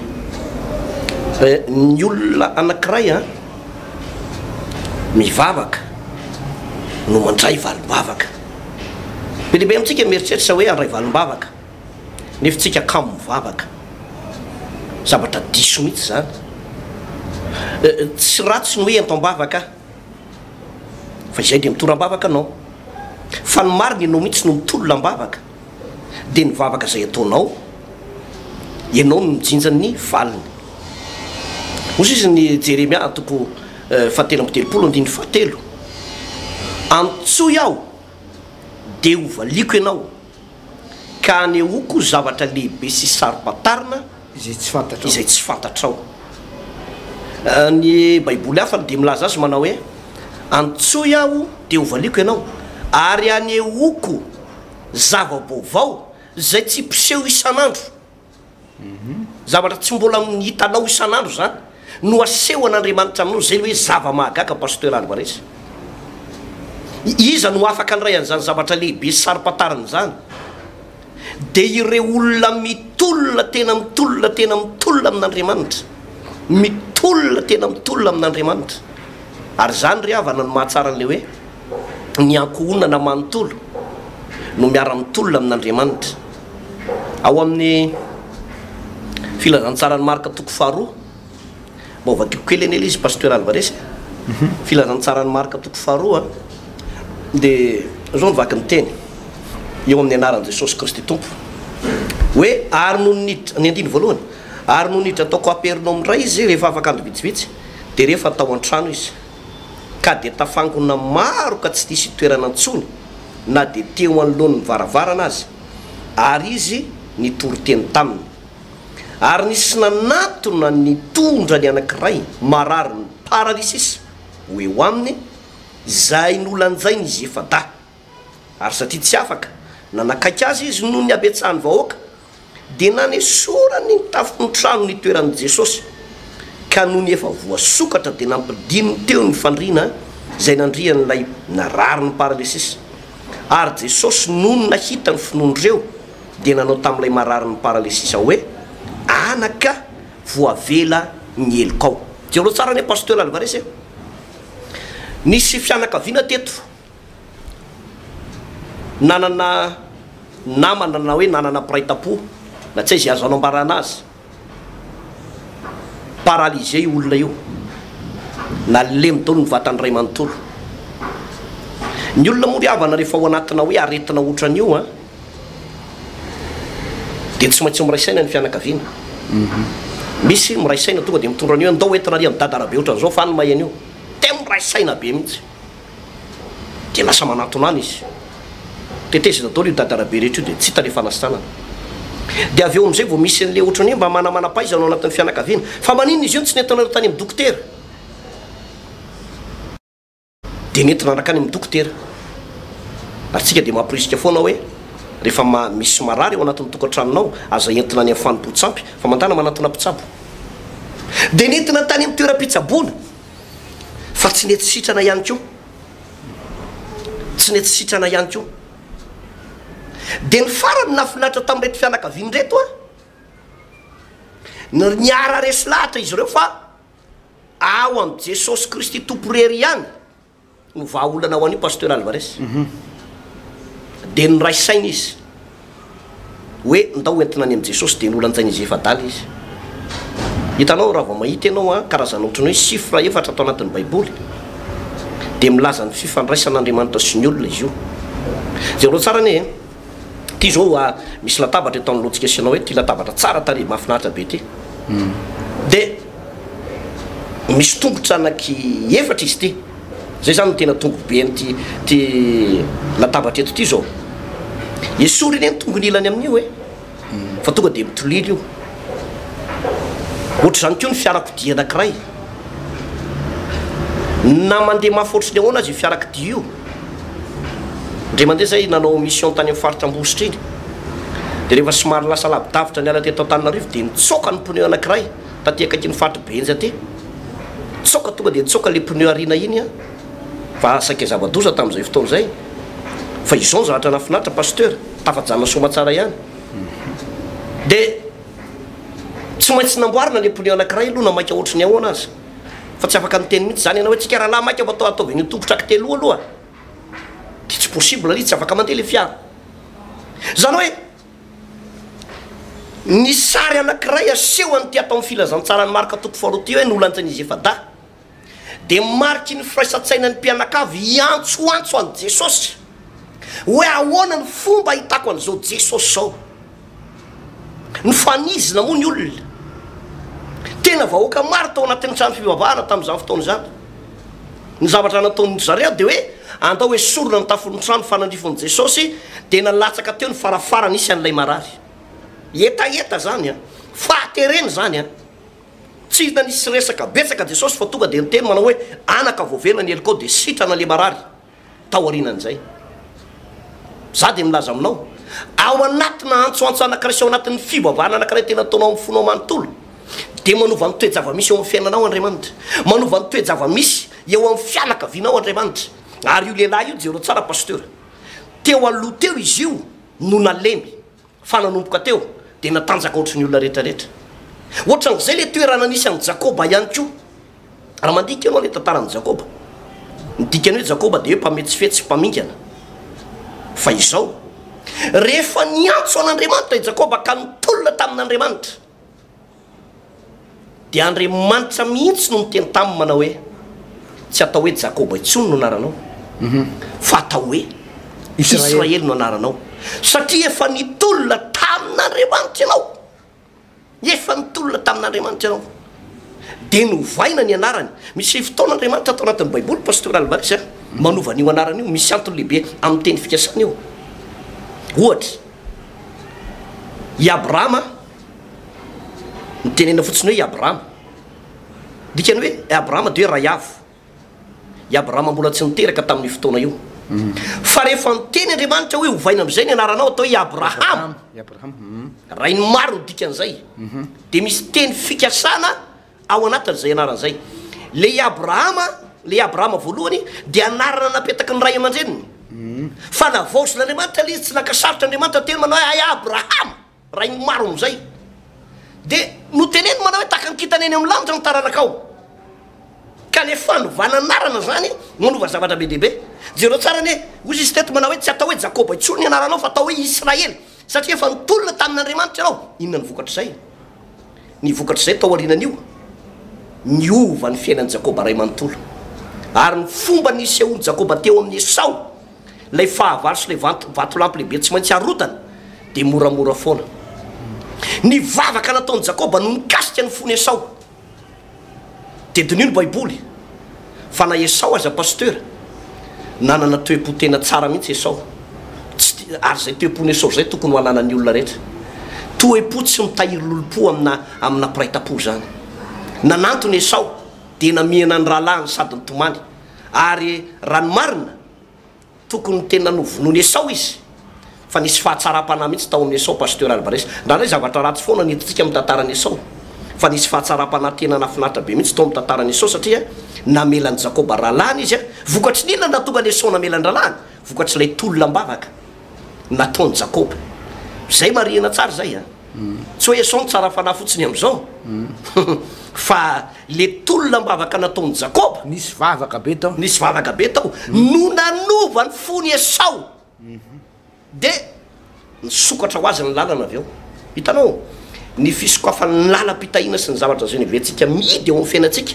ny olona anankiray a. mivavaka no mandray valim-bavaka. Be dia be amintsika mieritreritra hoe handray valim-bavaka, nefa tsika kamo mivavaka. Zavatra diso mihitsy izany. Tsy ratsy ny hoe ento am-bavaka aho, fa izay dia mitoram-bavaka anao. Fa ny marina ianao mihitsy no mitolona am-bavaka. dia ny vavaka izay ataonao, ianao no mijinja ny valiny. Hoy izy ny Jeremia antoko fahatelo amby telopolo andininy fahatelo, Antsoy aho dia hovaliako ianao, ka anehoako zavatra lehibe sy saro-pantarina, izay tsy fantatrao. Izay tsy fantatrao. Ny Baiboly hafa dia milaza azy manao hoe, Antsoy aho, dia hovaliako ianao, ary hanehoako zava-baovao izay tsy mpiseho isan'andro. Zavatra tsy mbola hitanao isan'andro izany no hasehon'Andriamanitra aminao. Izay ilay hoe zava-mahagaga, Pasteur Alvarez. Iza no afaka handray an'izany zavatra lehibe sy saropantarina izany? dia ireo olona mitolona tena mitolona tena mitolona amin'Andriamanitra, mitolona tena mitolona amin'Andriamanitra. Ary izany ry havana no mahatsara an'ilay hoe ny ankohonana manontolo no miara-mitolona amin'Andriamanitra. Ao amin'ny Filazantsaran'i Marka toko faharoa Mba ovadiko kely anie le izy Pasteur Alvarez e! Filazantsaran'i Marka toko faharoa dia izao no vaky ny teny eo amin'ny anaran'i Jesosy Kristy Tompo hoe ary nony niditra, ny andiny voalohany, ary nony niditra tao Kapernaomy indray izy rehefa afaka andro vitsivitsy dia rehefa tao an-trano izy ka dia tafangona maro ka tsy nisy toerana intsony na dia teo anoloan'ny varavarana aza ary izy nitory teny taminy. ary nisy nanatona ny tondrany anankiray marary ny paralysis ho eo aminy izay nolanjain'izy efa-dahy ary satria tsy afaka nanakaiky azy izy noho ny habetsahan'ny vahoaka dia nanesorany ny tafon'ny trano nitoeran'i Jesosy ka nony efa voasokatra dia nampidininy teo ny fandriana izay nandrian'ilay narary ny paralysis ary Jesosy nony nahita ny finoan'ireo dia nanao tamin'ilay mararin'ny paralesisa hoe, Anaka, voavela ny helokao. Jereo tsara anie Pasteur Alvarez e! Nisy fianakaviana teto nanana namana na hoe nanana mpiray tampo na tsy aiza azo anambarana azy. Paralysé io olona io, nalemy daholo ny vatany ray manontolo. Ny olona moa ry havana rehefa ao anatina hoe aretina otran'io an, dia tsy maintsy miray saina ny fianakaviana. Misy miray saina tonga dia mitondra an'io hoe ndao entina ary an'i dada raha be otran'izao fa any mahay an'io. Tena miray saina be mihitsy. dia lasa manatona any izy. Tetezina daholo io dadarabe rehetra io dia tsy hita ilay fanasitranana. Dia avy eo amin'izay vao misy an'ilay ohatran'ny hoe mba manamanam-pahaizana ao anatin'ny fianakaviana. Fa maninona izy io no tsy nentinareo tany amin'ny dokotera? Dia nentina nankany amin'ny dokotera. Ary isika dia mamporisika foana hoe rehefa misy marary ao anatin'ny tokantranonao, aza entina any amin'ny fanompoan-tsampy fa mandàna manatona mpitsabo. Dia nentina tany amin'ny toeram-pitsaboana. fa tsy nety sitrana ihany koa, tsy nety sitrana ihany koa. Dia ny farany nahafinaritra tamin'ireto fianakaviana ireto an, ny niara-resy lahatra izy ireo fa ao amin'i Jesosy Kristy Tompo irery ihany, Ny vahaolana ho an'io Pasteur Alvarez dia niray saina izy hoe ndao hoentina any amin'i Jesosy dia nolanjaina izy efa-dala izy. Hitanao raha vao mahita ianao an, karazana ohatran'ny hoe chiffre efatra tao anatin'ny baiboly dia milaza ny fifandraisan'Andriamanitra sy ny olona izy io. Jereo tsara anie e. Ity zao a, misy latabatra eto anoloantsika sy ianao eto, ity latabatra tsara tarehy mahafinaritra be ity. Dia misy tongotra anaky efatra izy ity. Izay izany no tena tongoben'ity ity latabatra eto ity izao. Esory anie ny tongon'ilany amin'io e. fa tonga dia mitolilo io. Ohatr'izany koa ny fiarakodia anankiray, na mandeha mafy ohatry ny ahoana aza io fiarakodia io, indray mandeha izay nanao mission tany amin'ny faritra Ambositra iny, dia rehefa somary lasa lavidavitra niala teto Antananarivo dia nitsoaka ny pneu anankiray taty akaikin'ny faritra Behenjy aty, nitsoaka tonga dia nitsoaka ilay pneu aoriana iny an! fa saika zava-doza tamin'izay fotoana izay, fa izao ny zavatra nahafinaritra Pasteur. Tafajanona soamatsara ihany. Dia tsy maintsy namboarina le pneu anakiray aloha na maika ohatry ny ahoana aza. Fa tsy afaka niteny mihitsy zany ianao hoe tsika rahalahy maika mba ataovy an'io tongotra ky teloa aloha. Dia tsy possible lia tsy afaka mandeha le fiara. Zany hoe ny sary anakiray aseho an'ity atao amin'ny filazantsaran'i Marka toko faharoa ity hoe nolanjain'izy efa-dahy. Dia mariky ny firaisan-tsainan'ny mpianakavy hiantsoantso an'i Jesosy hoe ahoana ny fomba ahitako an'izao Jesosy izao. Nifanizina moa ny olona. Tena vahoaka maro tao anatin'ny trano fivavahana tamin'izany fotoana izany. Ny zavatra nataon'ny zareo dia hoe andao esorina ny tafon'ny trano fanandrifon'i Jesosy dia nalatsaka teo ny farafarany isy an'ilay marary. Hetaheta izany an! Fahaterena izany an! Tsy hita nisy resaka betsaka Jesosy fa tonga dia niteny manao hoe, Anaka, voavela ny helokao dia sitrana ilay marary. Taorianan'izay, Izaho dia milaza aminao, ao anatina antsoantso anankiray sy ao anatin'ny fivavahana anankiray tena ataonao amin'ny fonao manontolo, dia manova ny toe-javamisy eo amin'ny fiainanao Andriamanitra. Manova ny toe-javamisy eo amin'ny fianakavianao Andriamanitra. Ary io lehilahy io, jereo tsara Pasteur, teo aloha teo izy io no nalemy. Fa nanomboka teo dia natanjaka ohatry ny olona rehetra rehetra. Ohatran izay le toerana nisy an'i Jakoba ihany koa. Raha mandika ianao le tantaran'i Jakoba. Ny dikany hoe Jakoba dia hoe mpametsifetsy, mpamingana. Fa izao. Rehefa niantso an'Andriamanitra i Jakoba ka nitolona tamin'Andriamanitra. Dia Andriamanitra mihitsy no niteny taminy manao hoe, Tsy atao hoe Jakoba intsony no anaranao, fa atao hoe Israely no anaranao, satria efa nitolona tamin'Andriamanitra ianao. Efa nitolona tamin'Andriamanitra ianao. Dia novaina ny anarany. Misy fotoana Andriamanitra ato anatin'ny Baiboly, Pasteur Albaris, manova an'io anarana io. Misy antony lehibe amin'ny teny fikasana io. Ohatra. I Abrahama, ny tenenina fotsiny hoe i Abrahama, dikany hoe i Abrahama dia hoe Raiavo. I Abrahama mbola tsy niteraka tamin'io fotoana io. Fa rehefa niteny Andriamanitra hoe ovaina amin'izay ny anaranao atao hoe i Abrahama, rain'ny maro ny dikan'izay, dia misy teny fikasana Ao anatin'izay anarana izay, ilay i Abrahama, ilay i Abrahama voalohany, dia anarana napetaky ny ray aman-dreniny. Fa navaozin'Andriamanitra ilay izy, tsy naka sarotra Andriamanitra teny manao hoe, Hay Abrahama, rain'ny maro amin'izay. Dia noteneniny manao hoe, Tahaka ny kintana eny amin'ny lanitra ny taranakao. Ka ilay fanovana anarana izany, manova zavatra be dia be. Jereo tsara anie, hoy izy teto manao hoe, Tsy atao hoe Jakoba intsony ny anaranao, fa atao hoe Israely, satria efa nitolona tamin'Andriamanitra ianao. Inona ny vokatr'izay? Ny vokatr'izay, tao aorianan'io, niova ny fiainan'i Jakoba ray manontolo, ary ny fomba nisehoan'i Jakoba teo amin'i Esao, ilay fahavalo sy ilay vatolampy lehibe tsy maintsy harotany, dia moramora foana. Ny vavaka nataon'i Jakoba no nikasika ny fon'i Esao. Dia diniho ny baiboly fa na Esao aza Pasteur nanana toepo tena tsara mihitsy Esao tsy ti ary zay toepon Esao zay tokony ho ananan'ny olona rehetra toepo tsy mitahiry lolompo amina amina mpiray tampo zany nanantona Esao dia namihana ny rahalahiny sady nitomany ary raha ny marina Tokony tena novonoin'i Esao izy fa nisy fahatsaram-panahy mihitsy tao amin'i Esao Pasteur Alvarez. Indraindray zavatra ratsy foana no hitantsika amin'ny tantaran'i Esao fa nisy fahatsaram-panahy tena nahafinaritra be mihitsy tao amin'ny tantaran'i Esao satria namela an'i Jakoba rahalahiny izy a! Vokatry ny inona no nahatonga an'i Esao namela an-drahalahiny? Vokatr'ilay tolona am-bavaka nataon'i Jakoba. Izay marihina tsara izay a! Tsy hoe Esao no tsara fanahy fotsiny amin'izao fa Le tolona am-bavaka nataon'i Jakoba. Nisy vavaka be tao. Nisy vavaka be tao. No nanova ny fon'i Esao. Dia nisokatra ho azy ny lalana avy eo. Hitanao? Ny fisokafan'ny lalam-pitahiana sy ny zavatra izay noheverentsika mihidy eo amin'ny fiainantsika,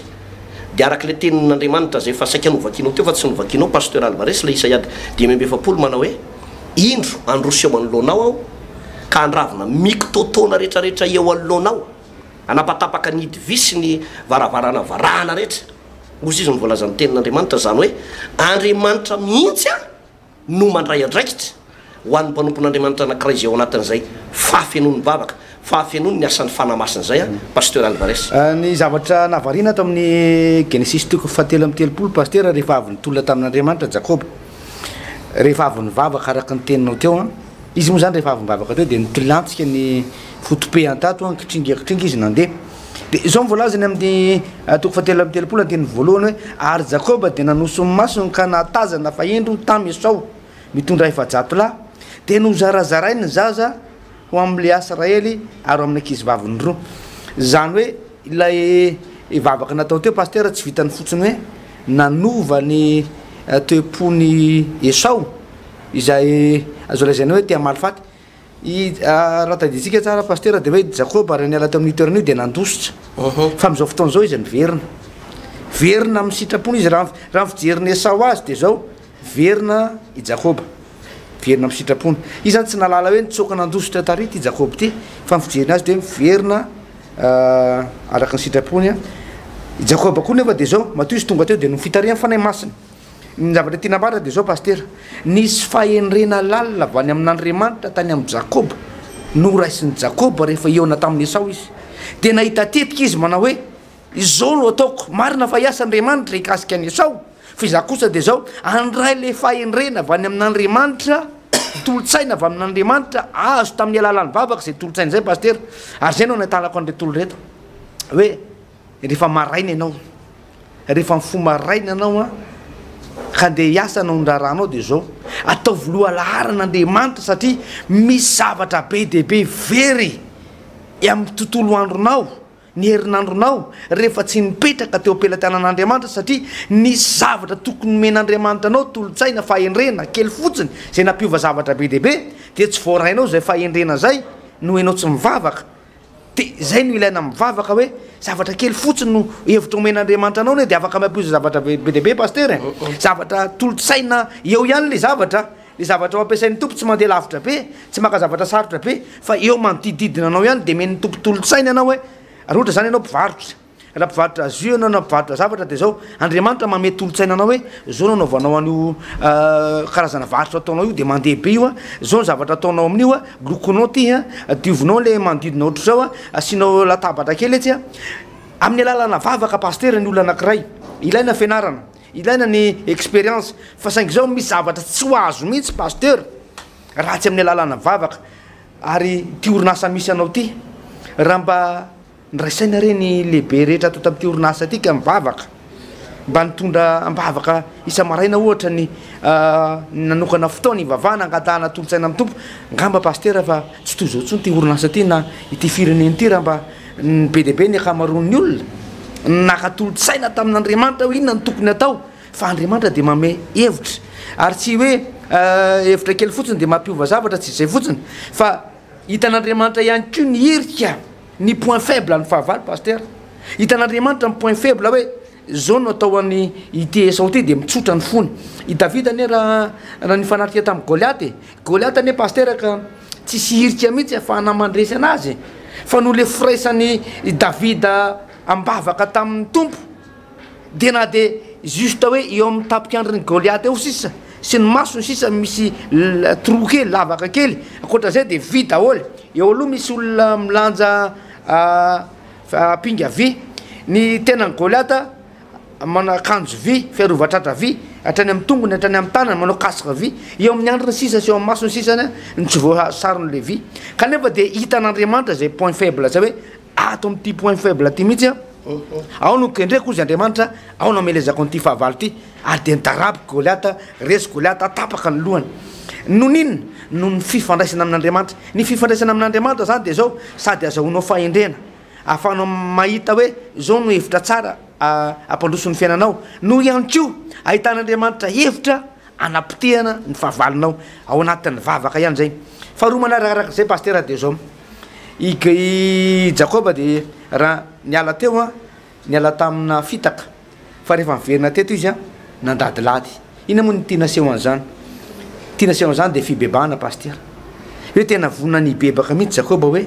dia araka ilay tenin'Andriamanitra izay efa saika novakinao teo fa tsy novakinao Pasteur Alvarez, ilay Isaia dimy amby efapolo manao hoe, Indro, handroso eo anoloanao Aho, ka handravona mikitotoana rehetrarehetra eo anoloanao. Hanapatapaka ny hidi-vy sy ny varavarana varahana rehetra. Hozy izy no voalazan'ny Tenin'Andriamanitra, izany hoe, Andriamanitra mihitsy aho no mandray andraikitra, ho an'ny mpanompon'Andriamanitra anankiray izay ao anatin'izay fahafenoan'ny vavaka, fahafenoan'ny asan'ny Fanahy Masina izay an, Pasteur Alvarez. Ny zavatra nahavariana ato amin'ny Genesisy toko fahatelo amby telopolo Pasteur rehefa avy nitolona tamin'Andriamanitra Jakoba. rehefa avy nivavaka araka ny teninao teo an, izy moa zany rehefa avy nivavaka teo dia nitilantsika ny fotopehany tato an, kitringa kitringa izy nandeha, dia izao ny voalazany amin'ny toko fahatelo amby telopolo andininy voalohany hoe, ary Jakoba dia nanoso ny masony ka nahatazana fa indro tam Esao mitondra efa-jato lahy, dia nozarazarainy ny zaza, ho amin'ny Leasy Raely ary ho amin'ny ankizivaviny roa. Izany hoe ilay vavaka natao teo Pasitera tsy vitan'ny fotsiny hoe nanova ny toe-pon'i Esao izay azo lazaina hoe te hamaly faty i raha tadidintsika tsara Pasitera dia hoe Jakoba raha niala teo amin'io toerana io dia nandositra fa amin'izao fotoana izao izy niverina. Niverina amin'ny sitrapony izy raha ny raha ny fijerin'i Esao azy dia izao Miverina i Jakoba. Miverina amin'ny sitrapony. Izy izany tsy nahalala hoe nitsoaka nandositra tary ity Jakoba ity, fa ny fijeriny azy dia miverina araka ny sitrapony i Jakoba koa nefa dia izao, matoa izy tonga teo dia noho fitarihan'ny Fanahy Masina. Ny zavatra tiana ambara dia izao Pasitera, nisy fahendrena lalina avy any amin'Andriamanitra tany amin'i Jakoba, noraisin'i Jakoba rehefa hihaona tamin'i Esao izy. Dia nahita tetika izy manao hoe. Izao no ataoko, marina fa hiasa Andriamanitra hikasika an'i Esao, fa izaho kosa dia izao, handray ilay fahendrena avy any amin'Andriamanitra, tolotsaina avy amin'Andriamanitra, azo tamin'ny alalan'ny vavaka izay tolotsaina izay Pasitera, ary izay no anatalako an'ireto olona ireto, hoe rehefa maraina ianao, rehefa mifoha maraina ianao an, ka handeha hiasa hanao ny raharahanao dia izao, ataovy lohalaharana Andriamanitra satria misy zavatra be dia be very amin'ny tontolo andronao, ny herinandronao rehefa tsy nipetraka teo am-pelatanan'Andriamanitra satria nisy zavatra tokony nomen'Andriamanitra anao tolotsaina fahendrena kely fotsiny izay nampiova zavatra be dia be dia tsy voarainao izay fahendrena izay noho ianao tsy mivavaka dia izay no ilaina mivavaka hoe zavatra kely fotsiny no hevitra omen'Andriamanitra anao ne dia afaka mampiova zavatra be dia be pasteur e zavatra tolotsaina eo ihany le zavatra Ny zavatra ho ampiasain'ny Tompo tsy mandeha lavitra be, tsy maka zavatra sarotra be, fa eo manodidididina anao ihany, demen'ny Tompo tolotsaina ianao hoe, raha ohatra izany ianao mpivarotra, raha mpivarotra jus ianao na mpivarotra zavatra dia izao, Andriamanitra manome tolotsaina anao hoe, izao no anaovanao an'io karazana varotra ataonao io dia mandeha be io an, izao ny zavatra ataonao amin'io an, lokonao ity an, diovinao ilay manodidina ohatr'izao an, asianao latabatra kely etsy an, amin'ny alalana vavaka Pasitera ny olona anakiray, ilaina fianarana. Ilaina ny experience fa saingy izao misy zavatra tsy ho azo mihitsy Pasteur raha tsy amin'ny alalana vavaka ary ity orinasa misy anao ity raha mba niraisaina re ny lehibe rehetra ato tamin'ity orinasa ity ka mivavaka mba nitondra ambavaka isa-maraina ohatra ny nanokana fotoana hivavahana angatahana tolotsaina amin'ny Tompo ngamba Pasteur fa tsy toy izao intsony ity orinasa ity na ity firenena ity raha mba Ny be dia be, ny ankamaroan'ny olona, naka tolo-tsaina tamin'Andriamanitra hoe inona no tokony hatao, fa Andriamanitra dia manome hevitra, ary tsy hoe hevitra kely fotsiny dia mampiova zavatra, tsy izay fotsiny, fa hitan'Andriamanitra ihany koa ny hirika, ny point faible, ny fahavalo Pasitera, hitan'Andriamanitra ny point faible hoe Izao no atao an' ity Esao ity, dia mitsotra ny fony. I Davida anie raha nifanatrika tamin'i Goliata e! Goliata anie Pasitera ka tsy hisy hirika mihitsy hahafahana mandresy anazy e! Fa noho ilay firaisan'i Davida am-bavaka tamin'ny Tompo dia na dia juste hoe eo amin'ny tapik'andrin'i Goliata eo sisa sy ny masony sisa misy trou kely, lavaka kely, ankoatra izay dia vy daholo. Eo aloha misy olona milanja Fa pinga vy ny tenan'i Goliata, manao akanjo vy, fiarovan-tratra vy hatrany amin'ny tongony, hatrany amin'ny tanany, manao casque vy, eo amin'ny andriny sisa sy eo amin'ny masony sisa ny tsy voasaron'ilay vy. Kanefa dia hitan'Andriamanitra izay point faible izay hoe ato amin'ity point faible ity mihitsy aho no kendreko hoy izy Andriamanitra, aho no hamelezako an'ity fahavalo ity Ary dia nitaraby Goliata, resy Goliata, tapaka ny lohany. Noho inona? Noho ny fifandraisana amin'Andriamanitra. Ny fifandraisana amin'Andriamanitra izany dia izao, sady azahoanao fahendrena, ahafahanao mahita hoe izao no hevitra tsara hampandroso ny fiainanao, noho ihany koa ahitan'Andriamanitra hevitra hanapotehana ny fahavalonao, ao anatin'ny vavaka ihany izay. Faharoa manarakaraka izay Pasitera dia izao, i Jakoba dia raha niala teo Niala tamina fitaka fa rehefa niverina teto izy nandadilady. Inona moa no tia naseho an'izany? Tia naseho an'izany dia fibebahana Pasitera. Hoe tena vonona ny hibebaka mihitsy Jakoba hoe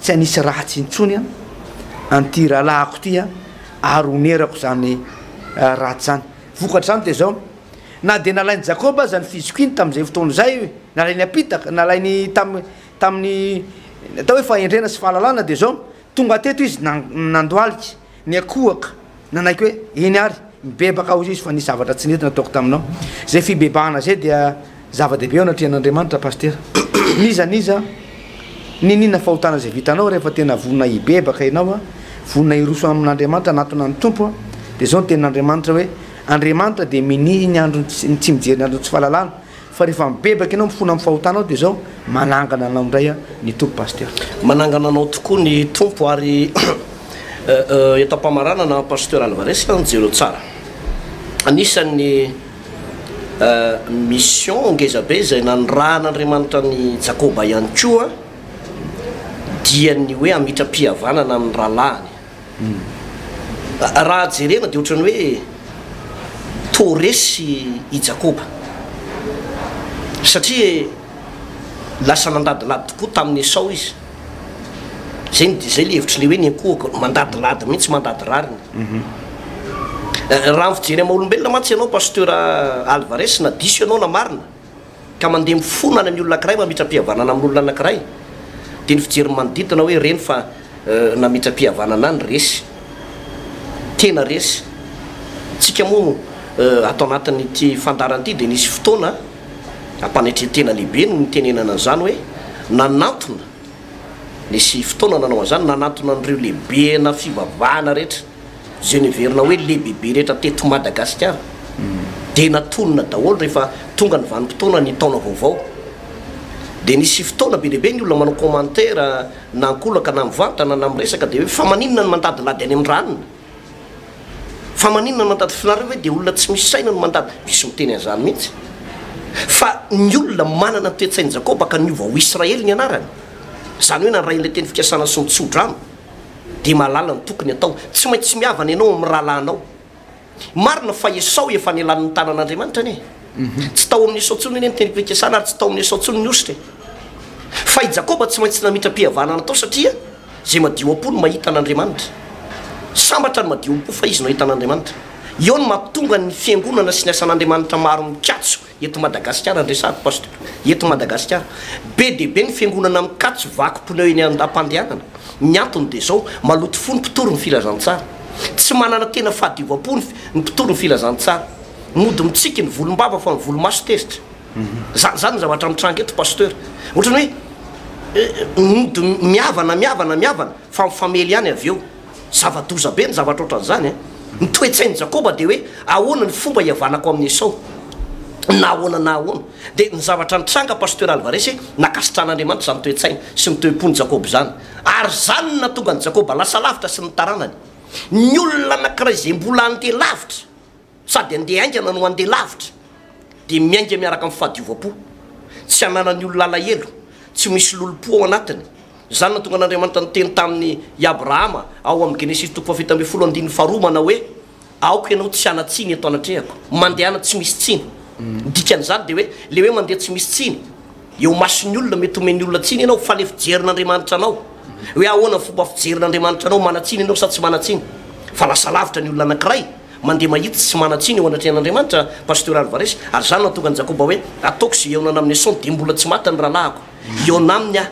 tsy hanisy ratsy intsony an'ity rahalahiko ity ary honerako izany ratsy izany. Vokatr'izany dia izao, na dia nalain'i Jakoba aza ny fizokiany tamin'izay fotoana izay, nalainy am-pitaka, nalainy tamin'ny atao hoe fahendrena sy fahalalana dia izao, Tonga teto izy nandohalika, niankohoka, nanaiky hoe, Eny ary, mibebaka aho izy fa nisy zavatra tsy nety nataoko taminao. Izay fibebahana izay dia zava-dehibe eo anatrehan'Andriamanitra, Pasitera. N'iza n'iza niniana fahotana izay vitanao, rehefa tena vonona hibebaka ianao, vonona hiroso amin'Andriamanitra, hanatona ny Tompo, dia izao ny tenin'Andriamanitra hoe, Andriamanitra dia minia ny andro, tsy mijery ny andron'ny tsy fahalalana, Fa rehefa mibebaka ianao mifona amin'ny fahotanao dia izao, manangana anao indray aho ny Tompo Pasteur. Manangana anao tokoa ny Tompo ary eto am-pamaranana Pasteur Alvarez an, jereo tsara. Anisan'ny mission ngeza be izay nanirahan'Andriamanitra an'i Jakoba ihany koa dia ny hoe hamitram-pihavanana amin'ny rahalahiny. Raha jerena dia ohatran'ny hoe toa resy i Jakoba, satria lasa nandadilady tokoa tamin'i Esao izy. Izay no izay ilay hevitry ny hoe ny ankohoko, mandadilady mihitsy, mandady rariny. Raha ny fijery amin'ny maha-olombelona mantsy ianao Pasteur Alvarez, na diso ianao na marina, ka mandeha mifonana ny olona ankiray mamitra-pihavanana amin' olona anankiray, dia ny fijery ny manodidina hoe reny fa namitra-pihavanana any resy, tena resy. Tsika moa ato anatin' ity fandaharana ity dia nisy fotoana ampanetren-tena lehibe no nitenenana an' izany hoe nanantona, nisy fotoana nanao an' izany, nanantona an' ireo lehibena fivavahana rehetra. izay niverina hoe lehibebe rehetra teto Madagasikara dia natolona daholo rehefa tonga ny vanim-potoana ny taona vaovao dia nisy fotoana be dia be ny olona manao commentaire na ankolaka na mivantana na miresaka dia hoe fa maninona ny mandadilady any amin'ny ranona fa maninona ny mandady finareo ve dia olona tsy misy saina no mandady misy miteny an'izany mihitsy fa ny olona manana ny toe-tsain'i Jakoba ka niova ho Israely ny anarany izany hoe nandray an'ilay teny fikasana sy ny tsodrano dia mahalala ny tokony atao. Tsy maintsy mihavana ianao amin'ny rahalahinao. Marina fa Esao efa nialan'ny tanan'Andriamanitra anie. Tsy tao amin'i Esao intsony anie ny tenim-pikasana ary tsy tao amin'i Esao intsony ny hosotra e. Fa i Jakoba tsy maintsy namitram-pihavanana natao satria izay madio am-po no mahita an'Andriamanitra. Sambatra ny madio am-po fa izy no ahita an'Andriamanitra. Eo no mahatonga ny Fiangonana sy ny asan'Andriamanitra maro mikatso Eto Madagasikara, andresako Pasteur, eto Madagasikara, be dia be ny fiangonana mikatso vaky pneu eny an-dam-pandehanana. Ny antony dia izao, maloto fo ny mpitory ny filazantsara. Tsy manana tena fahadiovam-po ny mpitory ny filazantsara. Mody mitsiky ny volom-bava fa ny volo-maso tezitra. Izany izany ny zavatra mitranga eto Pasteur. Ohatran'ny hoe mody mihavana, mihavana, mihavana fa mifamely ihany avy eo. Zava-doza be ny zavatra ohatran'izany. Ny toe-tsain'i Jakoba dia hoe, Ahoana ny fomba hihavanako amin'i Esao? Na ahoana na ahoana, dia ny zavatra nitranga, Pasteur Alvarez, nankasitran'Andriamanitra izany toe-tsaina sy ny toe-pon'i Jakoba izany. Ary izany no nahatonga an'i Jakoba lasa lavitra sy ny taranany. Ny olona anankiray izay mbola handeha lavitra. Sady handeha haingana no handeha lavitra, dia miainga miaraka amin'ny fahadiovam-po, tsy hananan'ny olona alahelo, tsy ho misy lolom-po ao anatiny. Izany nahatonga an'Andriamanitra niteny tamin'i i Abrahama ao amin'ny Genesisy toko fahafito ambin'ny folo andininy faharoa manao hoe, Aoka ianao tsy hanan-tsiny eto anatrehako. Mandehana tsy misy tsiny. Ny dikan'izany dia hoe, ilay hoe mandeha tsy misy tsiny. Eo mason'ny olona, mety homen'ny olona tsiny ianao fa le fijerin'Andriamanitra anao, hoe ahoana ny fomba fijerin'Andriamanitra anao, manan-tsiny ianao sa tsy manan-tsiny? Fa lasa lavitra ny olona anankiray mandeha mahitsy sy manan-tsiny eo anatrehan'Andriamanitra, Pasteur Alvarez, ary izany no nahatonga an'i Jakoba hoe, ataoko izay hihaonana amin'i Esaoa dia mbola tsy maty ny rahalahiko, hihaona aminy aho.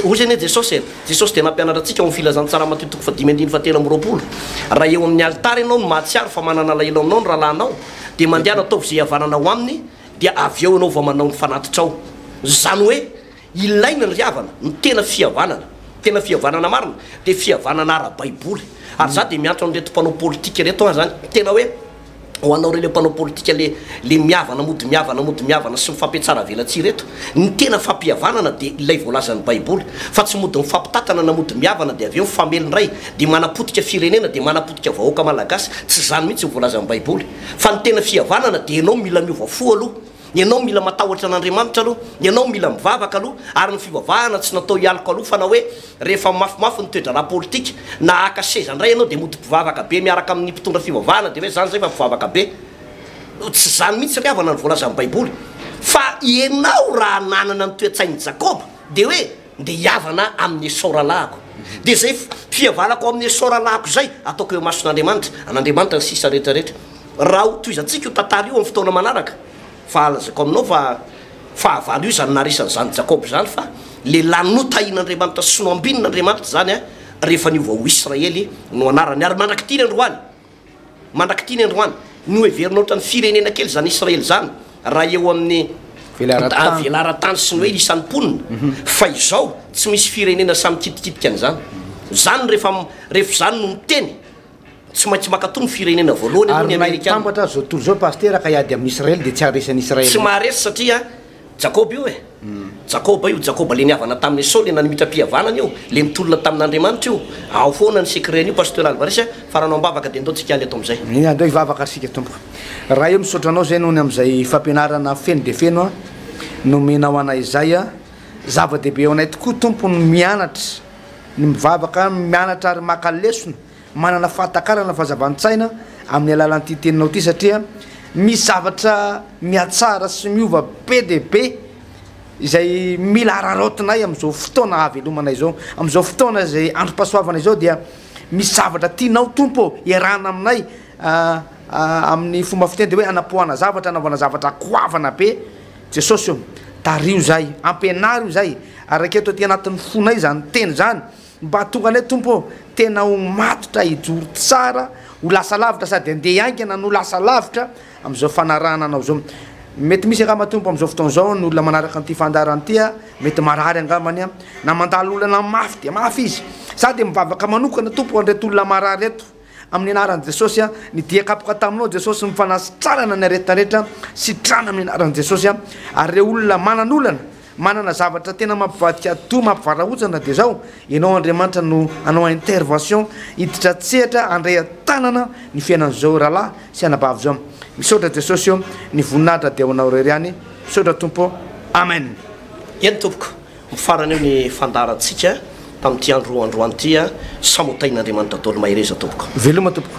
Hoy izay anie Jesosy e, Jesosy dia nampianatra antsika ao amin'ny Filazantsara Matio toko fahadimy andininy fahatelo amby roapolo, raha eo amin'ny alitara ianao no mahatsiaro fa manana alahelo aminao ny rahalahynao, dia mandehana ataovy izay hihavanana ho aminy, dia avy eo ianao vao manao ny fanatitrao. Izany hoe, ilaina ny ry havana, ny tena fihavanana, tena fihavanana marina, dia fihavanana ara-baiboly. Ary izaho dia miantso an'ireto mpanao politika ireto an, izany tena hoe, ho anao ireo ilay mpanao politika ilay, ilay mihavana mody mihavana mody mihavana sy mifampihatsaravelatsihy ireto, ny tena fampihavanana dia ilay voalazan'ny baiboly, fa tsy mody mifampitatana na mody mihavana dia avy eo mifamely indray, dia manapotika firenena, dia manapotika vahoaka malagasy, tsy izany mihintsy ny voalazan'ny baiboly. Fa ny tena fihavanana dia ianao mila miova fo aloha, ianao mila matahotra an'Andriamanitra aloha, ianao mila mivavaka aloha, ary ny fivavahana tsy natao hialoka loha fa na hoe rehefa mafimafy ny toe-draharaha politika na haka seza indray ianao dia mody mpivavaka be miaraka amin'ny mpitondra fivavahana dia hoe izany izay fa mpivavaka be. Tsy izany mihitsy ry havana ny voalazan'ny baiboly fa ianao raha nanana ny toe-tsain'i Jakoba dia hoe Ndeha hihavana amin'ny Esao rahalahiko, dia izay fihavanako amin'ny Esao rahalahiko izay, ataoko eo imason'Andriamanitra, an'Andriamanitra ny sisa rehetra rehetra. Raha hotohizantsika io tantara io amin'ny fotoana manaraka, fa lazaiko aminao fa fahavalo io izany naharesany izany Jakoba izany, fa lehilahy notahin'Andriamanitra sy nohambinina Andriamanitra izany, rehefa niova ho Israely no anarany, ary mandrak'ity ny androany. Mandrak'ity ny androany, noheverina ohatran'ny firenena kely izany Israely izany raha eo amin'ny velaran-tany sy ny hoe isan'ny mponina, fa izao tsy misy firenena sahy mikitikitika an'izany. Izany rehefa rehefa izany no miteny, tsy maintsy mankatoa ny firenena voalohany aloha ny Amerikana. Ary na hitambatra aza izao tontolo izao Pasitera ka hiady amin'Israely dia tsy haharesy an'Israely mihitsy. Tsy maharesy satria Jakoba io e! Jakoba io, Jakoba le nihavana tamin'i Esao, le nanimitra-pihavanana io, le nitolona tamin'Andriamanitra io. Ao foana ny secret-n'io Pasteur Alvarez a! Fa raha anao am-bavaka dia ndao tsy hikaly eto amin'izay. Eny, andao hivavaka isika tompoko. Ray o, misaotra anao izay noho ny amin'izay fampianarana feno dia feno a! nomenao anay izay a! Zava-dehibe ho anay tokoa Tompo ny mianatra, ny mivavaka, mianatra ary maka lesona. Manana fahatakarana ny fahazavan-tsaina amin'ny alalan'ity teninao ity satria misy zavatra mihatsara sy miova be dia be izay mila araraotinay amin'izao fotoana hahavelomana izao. Amin'izao fotoana izay androm-pahasoavana izao dia misy zavatra tianao Tompo ô, iarahana aminay amin'ny fomba fiteny dia hoe hanapoahana zavatra, hanaovana zavatra goavana be Jesosy ô. Tariho izahay, ampianaro izahay ary raketo aty anatin'ny fonay izany teny izany. Mba tonga anay Tompo ô, tena ho matotra hijoro tsara, ho lasa lavitra sady handeha haingana no lasa lavitra amin'izao fanarahana Anao izao. Mety misy angamba Tompo amin'izao fotoana izao ny olona manaraka an'ity fandaharana ity a, mety marary angambany a, na mandalo olana mafy dia mafy izy. Za dia mivavaka manokana Tompo ho an'ireto olona marary ireto. Amin'ny anaran'i Jesosy a, ny dia kapoka taminao Jesosy, ny fanasitrarana ny aretina rehetra, sitrana amin'ny anaran'i Jesosy a, ary ireo olona manan'olana, manana zavatra tena mampivadika atidoha, mampivarahontsana dia zao, Ianao Andriamanitra no hanao intervention, hiditra an-tsehatra, handray an-tanana ny fiainan'izao rahalahy sy anabavy zao. Misaotra Jesosy ô, ny voninahitra dia ho Anao irery ihany, misaotra Tompo ô, Amen. Eny Tompoko. Mifarana eo ny fandaharantsika tamin'ity andro androany ity a! Samotahin' Andriamanitra Dôly mahereza tompoko. Veloma tompoko.